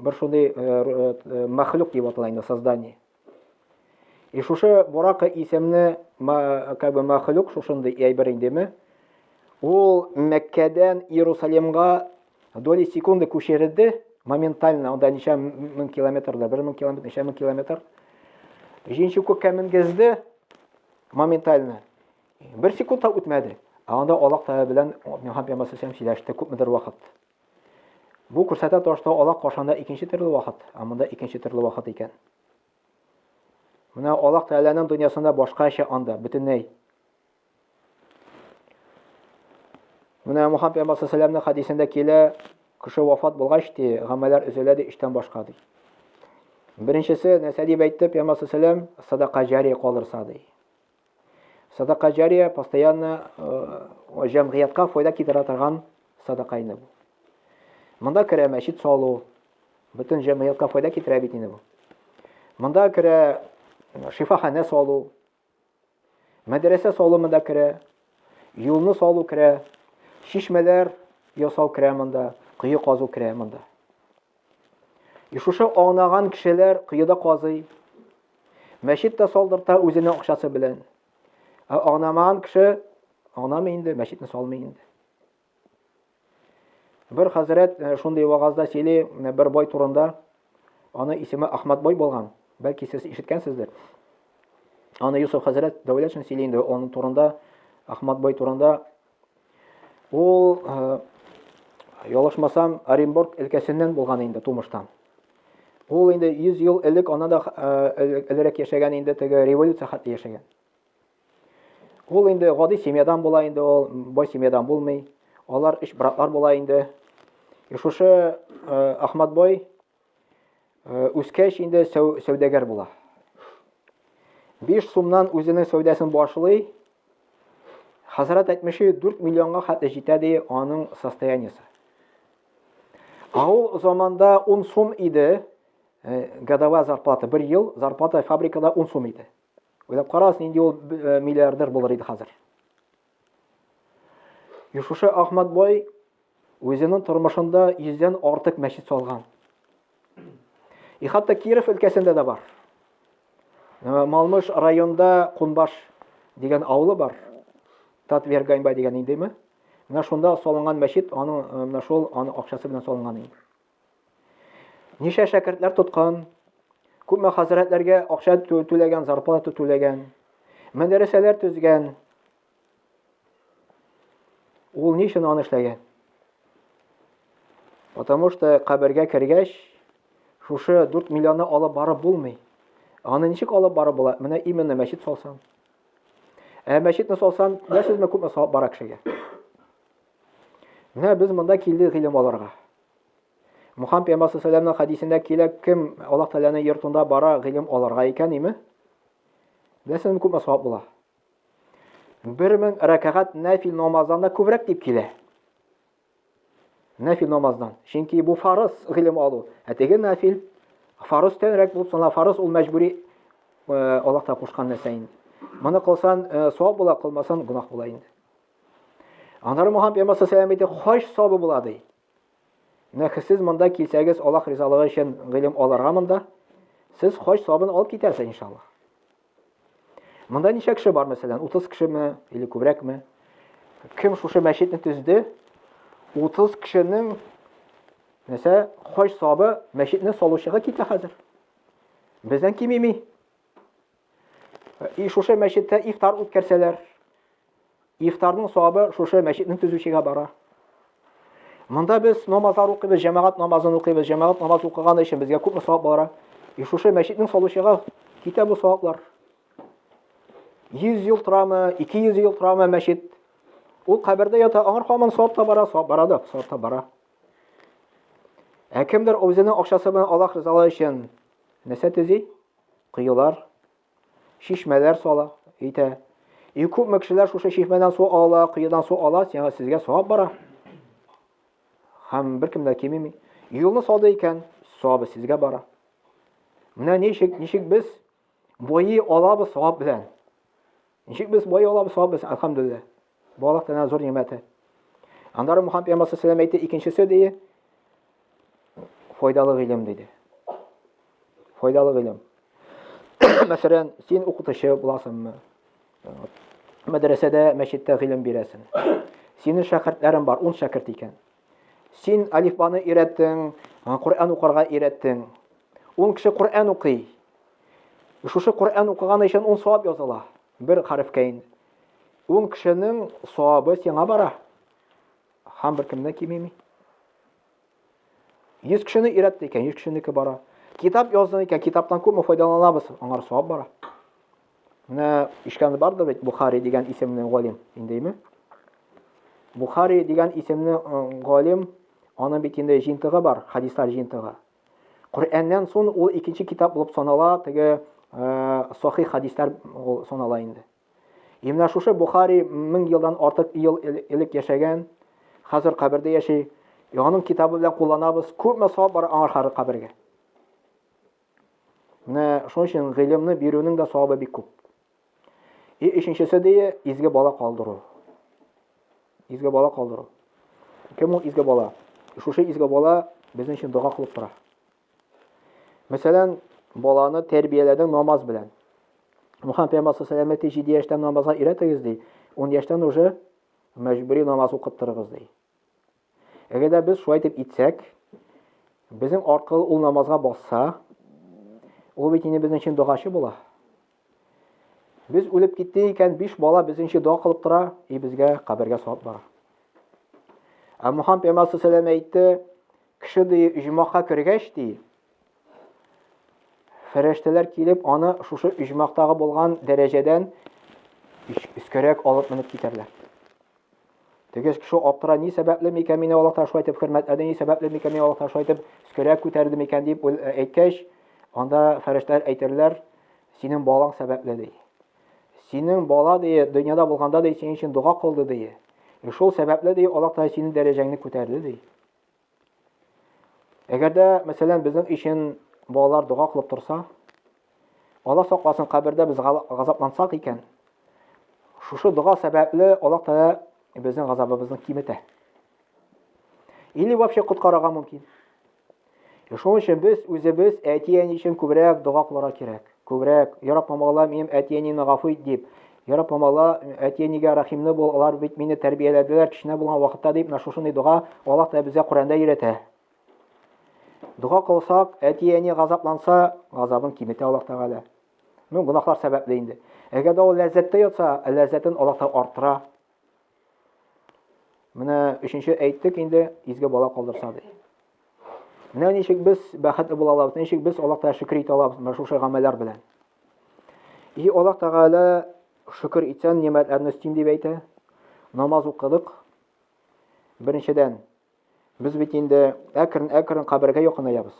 Бер шундый э, э, э, мәхлук дип атала инде создание. И шушы Бурака исемне как бы мәхлук шушындый әйбер индеме? Ул Мәккәдән Иерусалимга доли секунды күчерелде моментально, анда ничә мең километрда, бер мең километр, ничә мең километр. Җинче күккә менгезде моментально. Бер секунд та үтмәде. Ә анда Аллаһ Тәгалә белән Мөхәммәд Пәйгамбәр сөйләште күпмедер вакыт. Бу күрсәтә торышта алак кашанда икенче төрле вакыт, ә монда икенче төрле вакыт икән. Менә алак тәләнең дөньясында башкача анда, бөтенләй. Менә Мухаммед пәйгамбәр саллаллаху хадисендә килә, кеше вафат булгач ди, гамәлләр өзелә ди, өчтән башка ди. Беренчесе, нәрсә дип әйтте пәйгамбәр саллаллаху садака җари калырса ди. Садака җария постоянно э, җәмгыятькә файда китерә торган садака инде бу. Монда керә мәчет салу, бөтен җәмгыятькә файда китерә бит инде бу. Монда керә э, шифаханә салу, мәдрәсә салу монда керә, юлны салу керә, чишмәләр ясау керә монда, кое казу керә монда. И шушы аңнаган кешеләр коеда казый, мәчет тә салдырта үзенең акчасы белән. Ә аңнамаган кеше аңнамый инде, мәчетне салмый инде. Бер хәзрәт э, шундый вагазда сөйли э, бер бай турында. Аны исеме Ахмад бай булган. Бәлки сез ишеткәнсездер. Аны Юсуф хәзрәт Дәүләтшин сөйли инде, аның турында Ахмад бай турында Ул ялышмасам Оренбург өлкәсеннән булган инде тумыштан. Ул инде 100 ел элек ана да элерәк яшәгән инде теге революция хәтле яшәгән. Ул инде гади семьядан була инде ул, бай семьядан булмый. Алар өч братлар була инде. И шушы Ахматбай Э, үскәч инде сәүдәгәр була. Биш сумнан үзенең сәүдәсен башлый. Хәзрәт әйтмеше 4 миллионга хәтле җитә ди аның состояниесе. А ул заманда 10 сум иде э, годовая зарплата, бер ел зарплата фабрикада 10 сум иде. Уйлап карагыз, нинди ул э, миллиардер булыр иде хәзер. Юшушы Ахмат бай үзенең тормышында йөздән артык мәчет салган. И хатта Киров өлкәсендә дә бар. Малмыш районда Кунбаш дигән авылы бар. Татвер Ганьба дигән индеме? Менә шунда салынган мәчет, аның менә шул аның акчасы белән салынган инде. Ничә шәкертләр тоткан, күпме хәзрәтләргә акча түләгән, зарплата түләгән, мәдрәсәләр төзгән. Ул ни өчен аны эшләгән? Потому что кабергә кергәч, шушы 4 миллионны алып барып булмый. Аны ничек алып барып була? Менә именно мәчет салсан. Ә мәчетне салсан, нәрсәсезме күпме савап бара кешегә? Менә без монда килдек гыйлем алырга. Мухаммед пәйгамбәр саллаллаху хәдисендә килә, кем Аллаһ Тәгаләнең йортында бара гыйлем алырга икән, име? Беләсезме, күпме савап була? 1000 рәкәгать нәфил намаздан да күбрәк дип килә. Нәфил намаздан. Чөнки бу фарыз гыйлем алу. Ә теге нәфил фарыз тәнрәк булып сана, фарыз ул мәҗбүри э, Аллаһ та кушкан нәрсә инде. Моны кылсан э, савап була, кылмасан гунах була инде. Аннары Мухаммед пәйгамбәр саллаллаху әйтә, хаҗ сабы була ди. Менә сез монда килсәгез, Аллаһ ризалыгы өчен гыйлем алырга монда, сез хаҗ сабын алып китәсез иншаллаһ. Монда ничә кеше бар, мәсәлән, 30 кешеме или күбрәкме? Кем шушы мәчетне төзде? 30 кешенең нәрсә хаҗ сабы мәчетне салучыга китә хәзер. Бездән кимеми. И шушы мәчеттә ифтар үткәрсәләр, ифтарның савабы шушы мәчетнең төзүчегә бара. Монда без намазлар укыйбыз, җәмәгать намазын укыйбыз, җәмәгать намаз укыган өчен безгә күпме савап бара. И шушы мәчетнең салучыга китә бу саваплар. 100 ел торамы, 200 ел торамы мәчет? Ул кабердә ята, аңар хаман савап та бара, савап бара да, савап та бара. Ә кемдер үзенең акчасы белән Аллаһ ризалыгы өчен нәрсә төзи? коелар, чишмәләр сала, итә. И күпме кешеләр шушы чишмәдән су ала, коедан су ала, сиңа сезгә савап бара. Һәм беркем дә кимеми. Юлны салды икән, савабы сезгә бара. Менә ничек, ничек без буи алабыз савап белән. Ничек без бай алабыз сабыз, әлхәмдүлилләһ. Балык тәнә зур нигъмәте. Аннары Мухаммад пәйгамбәр саллаллаху әйтте, икенчесе дие файдалы гыйлем диде. Файдалы гыйлем. Мәсәлән, син укытучы буласыңмы? Мәдрәсәдә, мәчеттә гыйлем бирәсең. Синең шәкертләрең бар, ун шәкерт икән. Син алифбаны өйрәттең, Коръән укырга өйрәттең. Ул кеше Коръән укый. Шушы Коръән укыганы өчен ун савап языла. Бер хәрефкә инде. Ул кешенең савабы сиңа бара. Һәм беркемнән кимеми. 100 кешене өйрәтте икән, 100 кешенеке бара. Китап яздың икән, китаптан күпме файдаланабыз, аңар савап бара. Менә ишкәнде барды бит Бухари дигән исемне галим, индеме? Бухари дигән исемне э, галим, аның бит инде җинтыгы бар, хадислар җинтыгы. Коръәннән сон ул икенче китап булып санала, теге э, сахи хадислар ул санала инде. И менә шушы Бухари 1000 елдан артык ел элек яшәгән, хәзер кабердә яши. Аның китабы белән кулланабыз. Күпме савап бар аңа хәзер кабергә. Менә шуның өчен гыйлемне бирүнең дә савабы бик күп. И өченчесе дие, изге бала калдыру. Изге бала калдыру. Кем ул изге бала? Шушы изге бала безнең өчен дога кылып тора. Мәсәлән, баланы тәрбияләдең намаз белән. Мухаммед пәйгамбәр саллаллаху алейһи 7 яшьтән намазга өйрәтегез ди, 10 яшьтән уже мәҗбүри намаз укыттырыгыз ди. Әгәр дә без шулай итеп итсәк, безнең аркылы ул намазга басса, ул бит инде безнең өчен догачы була. Без үлеп китте икән, биш бала безнең өчен дога кылып тора, и безгә кабергә савап бара. Ә Мухаммад пәйгамбәр саллаллаху әйтте, кеше ди иҗмакка кергәч ди, фәрештәләр килеп аны шушы иҗмактагы булган дәрәҗәдән үскәрәк алып менеп китәрләр. Тегез кеше аптыра, ни сәбәпле микән мине Аллаһтан шулай итеп хөрмәтләде, ни сәбәпле микән мине Аллаһтан шулай итеп өскәрәк күтәрде микән дип әйткәч, анда фәрештәләр әйтерләр, синең балаң сәбәпле ди. Синең бала ди, дөньяда булганда ди, синең өчен дога кылды ди. Шул сәбәпле ди, Аллаһ Тәгалә синең дәрәҗәңне күтәрде ди. Әгәр дә, мәсәлән, безнең өчен балалар дога кылып торса, Алла сакласын, кабердә без газаплансак икән, шушы дога сәбәпле Аллаһ Тәгалә безнең газабыбызны киметә. Или вообще коткарырга мөмкин. Шуның өчен без үзебез әти-әни өчен күбрәк дога кылырга кирәк. Күбрәк, Я Рабб, мамала минем әти-әнине гафу ит, дип. Я Рабб, мамала әти-әнигә рәхимле бул, алар бит мине тәрбияләделәр кечкенә булган вакытта, дип менә шушындый дога Аллаһ та безгә Коръәндә өйрәтә. Дога кылсак, әти-әни газапланса, газабын киметә Аллаһ Тәгалә. Ну, гөнаһлар сәбәпле инде. Әгәр дә ул ләззәттә ятса, ләззәтен Аллаһ та арттыра. Менә өченче әйттек инде, изге бала калдырса ди. Менә ничек без бәхетле була алабыз, ничек без Аллаһ Тәгаләгә шөкер итә алабыз менә шушы гамәлләр белән. И Аллаһ Тәгалә шөкер итсәң, нигъмәтләрне өстим дип әйтә. Намаз укыдык. Беренчедән, без бит инде әкрен-әкрен кабергә якынаябыз.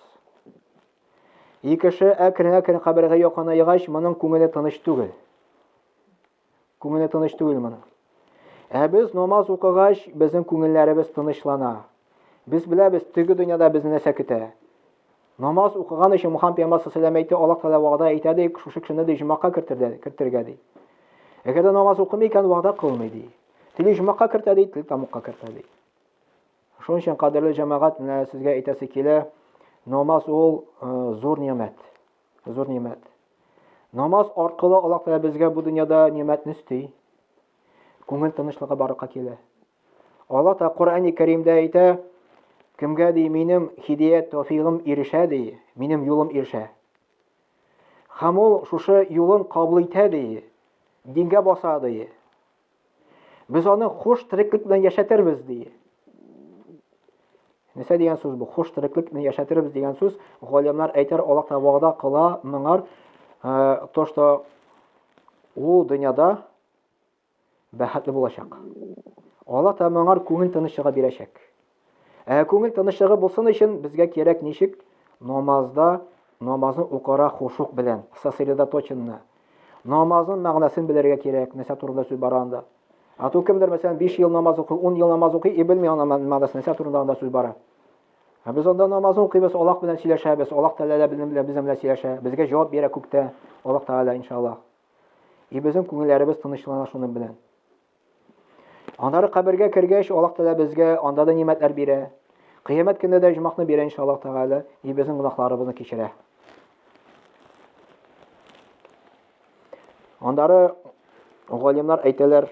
Икенче, әкрен-әкрен кабергә якынаегач, моның күңеле тыныч түгел. Күңеле тыныч түгел моның. Ә без намаз укыгач, безнең күңелләребез тынычлана. Без беләбез, теге дөньяда безне нәрсә көтә. Намаз укыган өчен Мухаммад пәйгамбәр саллаллаху алейһи ва Аллаһ тәгалә вәгъдә итә ди, шушы кешене ди җомакка кертергә, кертергә ди. Әгәр дә намаз укымый икән, вәгъдә кылмый ди. Тели җомакка кертә ди, тел тамукка кертә ди. Шуның өчен кадерле җәмәгать, менә сезгә әйтәсе килә, намаз ул э, зур нигъмәт. Зур нимәт. Намаз аркылы Аллаһ Тәгалә безгә бу дөньяда нимәтне өсти. Күңел тынычлыгы барырга килә. Аллаһ та Коръәни Кәримдә әйтә, кемгә ди минем хидият тәфигым ирешә ди, минем юлым ирешә. Һәм ул шушы юлын кабул итә ди, дингә баса ди. Без аны хуш тереклек белән яшәтербез, ди. Нәрсә дигән сүз бу? Хуш тереклек белән яшәтербез дигән сүз. Галимнар әйтер, Аллаһ та вәгъдә кыла моңар, э, то, что ул дөньяда бәхетле булачак. Аллаһ та моңар күңел тынычлыгы бирәчәк. Ә күңел тынычлыгы булсын өчен безгә кирәк ничек? Намазда намазны укыра хушук белән, сосредоточенно. Намазның мәгънәсен белергә кирәк, нәрсә турында сүз бара анда. А то кемдер, мәсәлән, 5 ел намаз укый, 10 ел намаз укый, и белми ана мәгънәсен, нәрсә турында анда сүз бара. Ә без анда намазны укыйбыз, Аллаһ белән сөйләшәбез, Аллаһ Тәгалә безнең белән безнең белән сөйләшә, безгә җавап бирә күктә Аллаһ Тәгалә, иншаллаһ. И безнең күңелләребез тынычлана шуның белән. Аннары кабергә кергәч, Аллаһ Тәгалә безгә анда да нимәтләр бирә. Кыямәт көндә дә җумакны бирә иншаллаһ Тәгалә, и безнең гунахларыбызны кичерә. Аннары галимнар әйтәләр,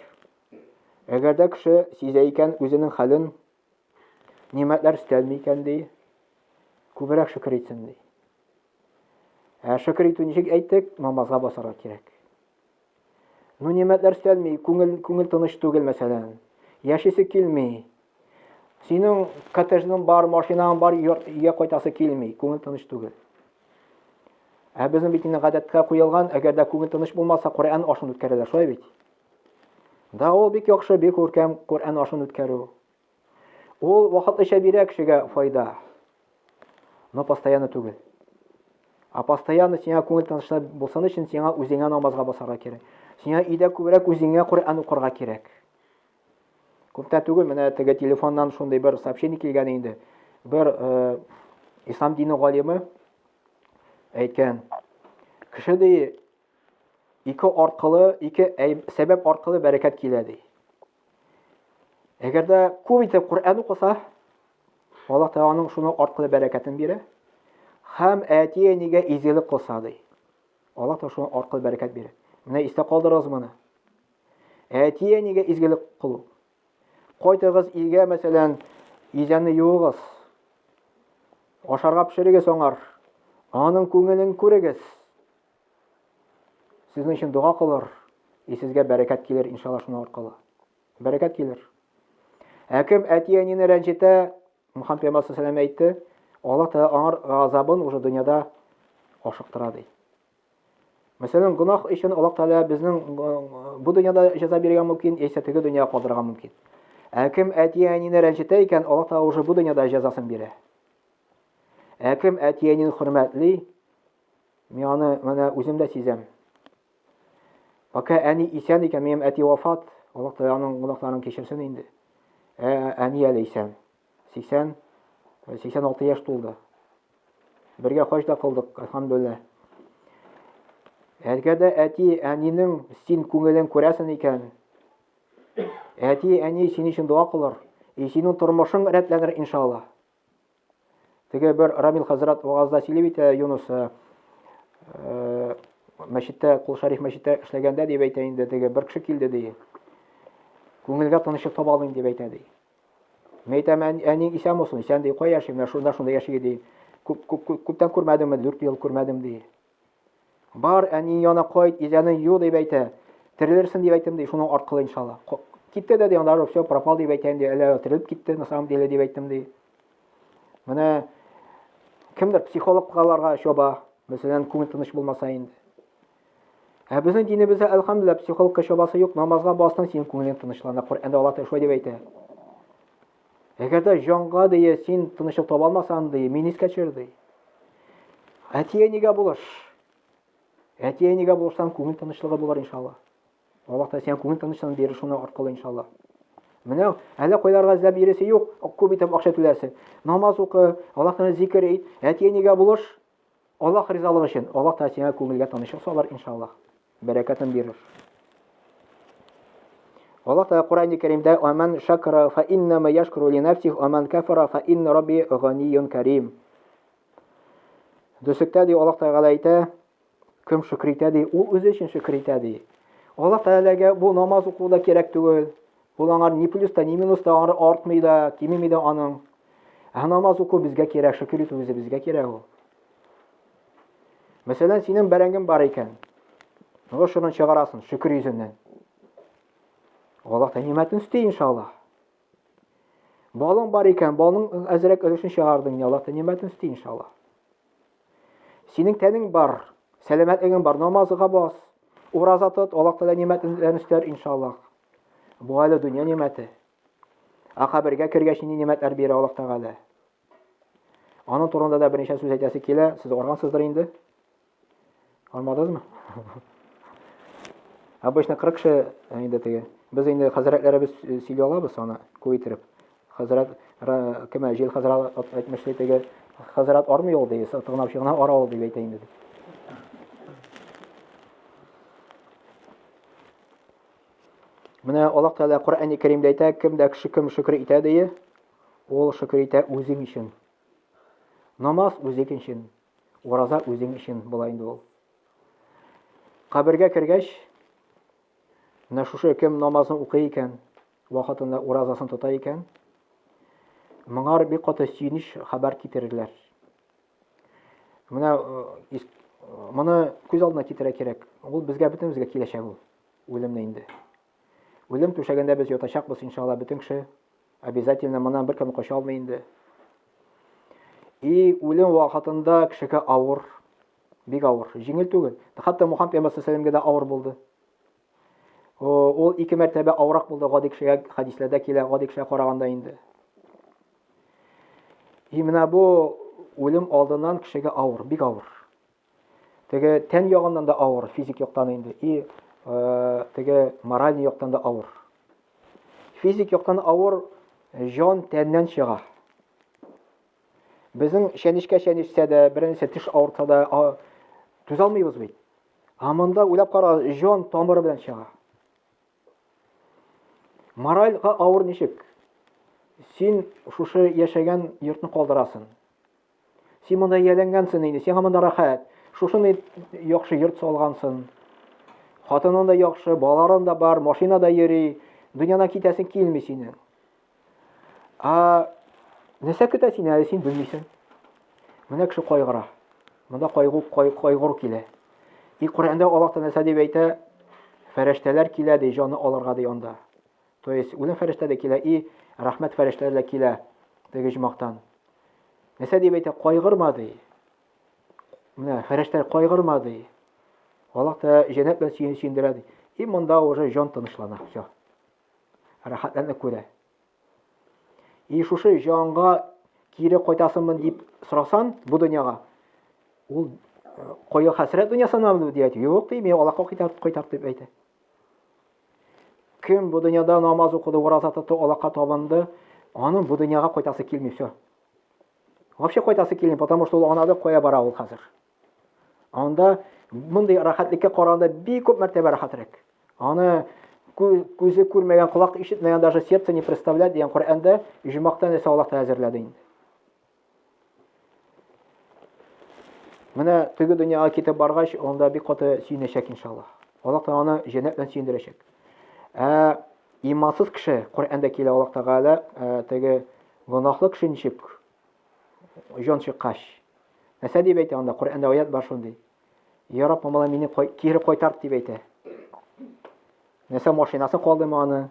әгәр дә кеше сизә икән үзенең хәлен, нимәтләр өстәлми икән ди, күбрәк шөкер итсен ди. Ә шөкер итү ничек әйттек, намазга басарга кирәк. Ну, нигъмәтләр өстәлми, күңел, күңел тыныч түгел, мәсәлән. Яшисе килми. Синең коттеджның бар, машинаң бар, өйгә кайтасы килми, күңел тыныч түгел. Ә безнең бит инде гадәткә куелган, әгәр дә күңел тыныч булмаса, Коръән ашын үткәрәләр, шулай бит. Да, ул бик яхшы, бик күркәм Коръән ашын үткәрү. Ул вакытлыча бирә кешегә файда, но постоянно түгел. А постоянно сиңа күңел тынычлы булсын өчен сиңа үзеңә намазга басарга кирәк. Сиңа өйдә күбрәк үзеңә Коръән укырга кирәк. Күптән түгел менә теге телефоннан шундый бер сообщение килгән инде. Бер э, ислам дине галиме әйткән. Кеше ди ике аркылы, ике сәбәп аркылы бәрәкәт килә ди. Әгәр дә күп итеп Коръән укыса, Аллаһ Тәгалә аның шуның аркылы бәрәкәтен бирә. Хәм әтие нигә изелек кылса ди. Аллаһ Тәгалә шуның аркылы бәрәкәт бирә. Менә истә калдырыгыз моны. Әтие нигә изелек кылу. Кайтыгыз илгә, мәсәлән, изәне юыгыз. Ашарга пешерегез аңар. Аның күңелен күрегез. Сезнең өчен дога кылыр, и сезгә бәрәкәт килер, иншалла, шуның аркылы. Бәрәкәт килер. Ә кем әти-әнине рәнҗетә, Мөхәммәд пәйгамбәр саллаллаху әйтте, Аллаһ Тәгалә аңар газабын уже дөньяда ашыктыра ди. Мәсәлән, гунах өчен Аллаһ Тәгалә безнең бу дөньяда җәза бирергә мөмкин, яисә теге дөньяга калдырырга мөмкин. Ә кем әти-әнине рәнҗетә икән, Аллаһ Тәгалә уже бу дөньяда җәзасын бирә. Ә кем әти-әнине хөрмәтли, Мин аны менә үзем дә сизәм. Пока әни исән икән, минем әти вафат, Аллаһ Тәгалә аның гөнаһларын кичерсен инде. Ә әни әле исән. 80 86 э, яшь тулды. Бергә хаҗ да кылдык, әлхәмдулилла. Әлгә дә әти әнинең син күңелен күрәсен икән. Әти әни син өчен дога кылыр. И синең тормышың рәтләнер иншалла. Теге бер Рамил хәзрәт вагазда сөйли бит, э, Юнус, э, э, мәчеттә, Кул Шариф мәчеттә эшләгәндә дип әйтә инде, теге бер кеше килде ди. Күңелгә тынычлык таба алмыйм дип әйтә ди. Мин әйтәм, әниң исән булсын, исән ди, кая яши, менә шунда шунда яши ди. Күп, күп, күптән күрмәдемме, дүрт ел күрмәдем ди. Бар, әни яна кайт, изәне ю дип әйтә. Терелерсен дип әйттем ди, шуның аркылы иншалла. Китте дә ди, анда все пропал дип әйтә инде, әле терелеп китте, на самом деле дип әйттем ди. Менә кемдер психологларга чоба, мәсәлән, күңел тыныч булмаса инде. Ә безнең динебездә, әлхәмдүлилләһ, психологка чобасы юк, намазга бастың, синең күңелең тынычлана, Коръәндә Аллаһ Тәгалә шулай дип әйтә. Әгәр дә җанга дия син тынычлык таба алмасаң, ди, мин искә төшер, ди. Әти-әнигә булыш. Әти-әнигә булышсаң, күңел тынычлыгы булыр иншалла. Аллаһ та сиңа күңел тынычлыгын бирер шуның аркылы иншалла. Менә әллә кайларга эзләп йөресе юк, күп итеп акча түләсен. Намаз укы, Аллаһ тәгалә зикер ит, әти-әнигә булыш. Аллаһ ризалыгы өчен, Аллаһ Тәгалә сиңа күңелгә тынычлык салыр, иншаллаһ. Бәрәкәтен бирер. Аллаһ Тәгалә Коръән-и Кәримдә "Аман шакра фа иннама яшкуру ли нафсих, аман кафара фа инна рабби ганиюн карим". Дөсектә ди Аллаһ Тәгалә әйтә, кем шөкер итә ди, ул үзе өчен шөкер итә ди. Аллаһ Тәгаләгә бу намаз укуда кирәк түгел. Ул аңар ни плюс та, ни минус та аңар артмый да, кимеми дә аның. Ә намаз уку безгә кирәк, шөкер итү үзе безгә кирәк ул. Мәсәлән, синең бәрәңгең бар икән. Нур шунын чыгарасын, шөкер йөзеннән. Аллаһ та нимәтен үсти, иншаллаһ. Балың бар икән, балың әзрәк өлешен чыгардың, Аллаһ та нимәтен үсти, иншаллаһ. Синең тәнең бар, сәламәтлегең бар, намазга бас, ураза тот, Аллаһ та нимәтен үстәр, иншаллаһ. Бу әле дөнья нигъмәте. Ә кабергә кергәч нинди нигъмәтләр бирә Аллаһ Тәгалә? Аның турында да берничә сүз әйтәсе килә. Сез аргансыздыр инде. Армадызмы? Обычно 40 кеше э, инде теге. Без инде хәзрәтләребез э, сөйли алабыз аны күетереп. Хәзрәт кемә җил хәзрәт әйтмешли теге хәзрәт армый ул ди, тыгнап чыгына ара ул дип әйтә инде. Менә Аллаһ Тәгалә Коръәни Кәримдә әйтә, кем дә кеше кем шөкер итә дие, ул шөкер итә үзең өчен. Намаз үзең өчен, ураза үзең өчен була инде ул. Кабергә кергәч, менә шушы кем намазын укый икән, вакытында уразасын тота икән, моңар бик каты сөенеч хәбәр китерерләр. Менә моны күз алдына китерә кирәк. Ул безгә бөтенебезгә киләчәк ул. Үлемне инде. Үлем түшәгендә без ятачакбыз иншалла бөтен кеше. Обязательно моннан беркем кача алмый инде. И үлем вакытында кешегә авыр, бик авыр, җиңел түгел. Хәтта Мухаммед пәйгамбәр саллаллаһу алейһи ва салләмгә дә авыр булды. Ул ике мәртәбә авырак булды гади кешегә, хәдисләрдә килә, гади кешегә караганда инде. И менә бу үлем алдыннан кешегә авыр, бик авыр. Теге тән ягыннан да авыр, физик яктан инде, и э, теге мораль яктан да авыр. Физик яктан авыр җан тәннән чыга. Безнең чәнечкә чәнешсә дә, беренче теш авырта да, түзә алмыйбыз бит. Ә монда уйлап кара, җан тамыры белән чыга. Моральга авыр ничек? Син шушы яшәгән йортны калдырасын. Син монда ияләнгәнсең инде, сиңа монда рәхәт. Шушыны яхшы йорт салгансың. Хатының да яхшы, балаларың да бар, машина да йөри. Дөньядан китәсең килми синең. Ә нәрсә көтә сине әле син белмисең. Менә кеше кайгыра. Монда кайгу кайгыр килә. И Коръәндә Аллаһ та нәрсә дип әйтә? Фәрештәләр килә ди, җаны алырга ди анда. То есть үлем фәрештә дә килә и рәхмәт фәрештәләре дә килә теге җмактан. Нәрсә дип әйтә? Кайгырма ди. Менә фәрештәләр кайгырма ди. Аллаһ та җәннәт белән сөендерә ди. И монда уже җан тынычлана. Все. рәхәтләнеп күрә. И шушы җанга кире кайтасыңмы дип сорасан, бу дөньяга. Ул кое хәсрәт дөньясына бу дият. Юк, ди, мин Аллаһка кайтарып кайтар дип әйтә. Кем бу дөньяда намаз укыды, ураза тотты, Аллаһка табынды, аның бу дөньяга кайтасы килми все. Вообще кайтасы килми, потому что ул анады кое бара ул хәзер. Анда мондый рәхәтлеккә караганда бик күп мәртәбә рәхәтрәк. Аны күзе күрмәгән, колак ишетмәгән, даже сердце не представляет дигән Коръәндә иҗмактан исә Аллаһ та әзерләде инде. Менә теге дөньяга китеп баргач, анда бик каты сөенәчәк иншаллаһ. Аллаһ та аны җәннәт белән сөендерәчәк. Ә имансыз кеше Коръәндә килә Аллаһ Тәгалә теге гөнаһлы кеше ничек Җон чыккач. Мәсә дип әйтә анда, Коръәндә аят бар шундый. Я Раббым, алай мине кире кайтарт дип әйтә. Нәрсә машинасы калдымы аны?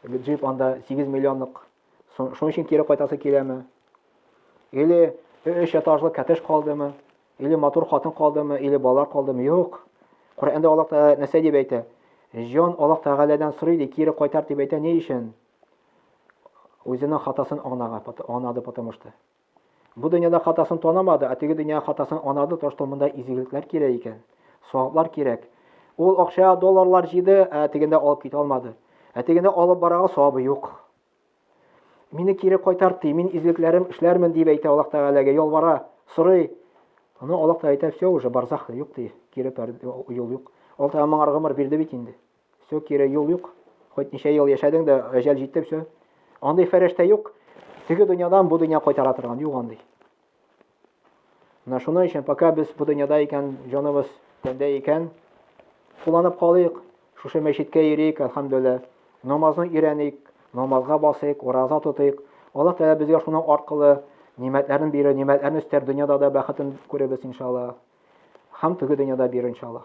Джип анда 8 миллионлык. Шуның өчен кире кайтасы киләме? Или өч этажлы коттедж калдымы? Или матур хатын калдымы? Или балалар калдымы? Юк. Коръәндә Аллаһ Тәгалә нәрсә дип әйтә? Җон Аллаһ Тәгаләдән сорый ди, кире кайтар дип әйтә. Ни өчен? Үзенең хатасын анага, анады потому что. Бу дөньяда хатасын танамады, ә теге дөнья хатасын анады, то что монда изгелекләр кирәк икән, саваплар кирәк. Ул акча долларлар җиде, ә тегендә алып китә алмады. Ә тегендә алып барага савабы юк. Мине кире кайтарт ди, мин изгелекләрем эшләрмен дип әйтә Аллаһ Тәгаләгә, ялвара, сорый. Аны Аллаһ Тәгалә әйтә, все уже барзах юк ди, кире юл юк. Аллаһ Тәгалә моңар гомер бирде бит инде. Все, кире юл юк. Хоть ничә ел яшәдең дә, әҗәл җитте, все. Андый фәрештә юк. Теге дөньядан бу дөнья кайтара торган, юк андый. Менә шуның өчен, пока без бу дөньяда икән, җаныбыз тәндә икән, кулланып калыйк, шушы мәчеткә йөрик, әлхәмдүлилла, намазны өйрәник, намазга басыйк, ураза тотыйк. Аллаһ Тәгалә безгә шуның аркылы нимәтләрен бирер, нимәтләрне өстәр, дөньяда да бәхетен күрербез, иншаллаһ. Һәм теге дөньяда бирер, иншаллаһ.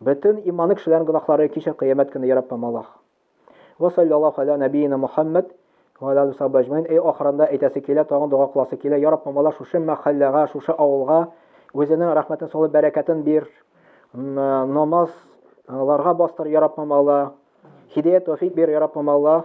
Бөтен иманы кешеләрнең гөнаһлары кичер кыямәт көне яраппам Аллаһ. Ва саллаллаһу аля нәбиина Мухаммад ва аля алиһи сахбы әҗмәин. Әй ахырында әйтәсе килә, тагын дога кыласы килә. Я Раббым Аллаһ шушы мәхәлләгә, шушы авылга үзенең рәхмәтен салып бәрәкәтен бир. Намаз ларга бастыр, я Раббым Аллаһ. Хидәят тәүфик бир, я Раббым Аллаһ.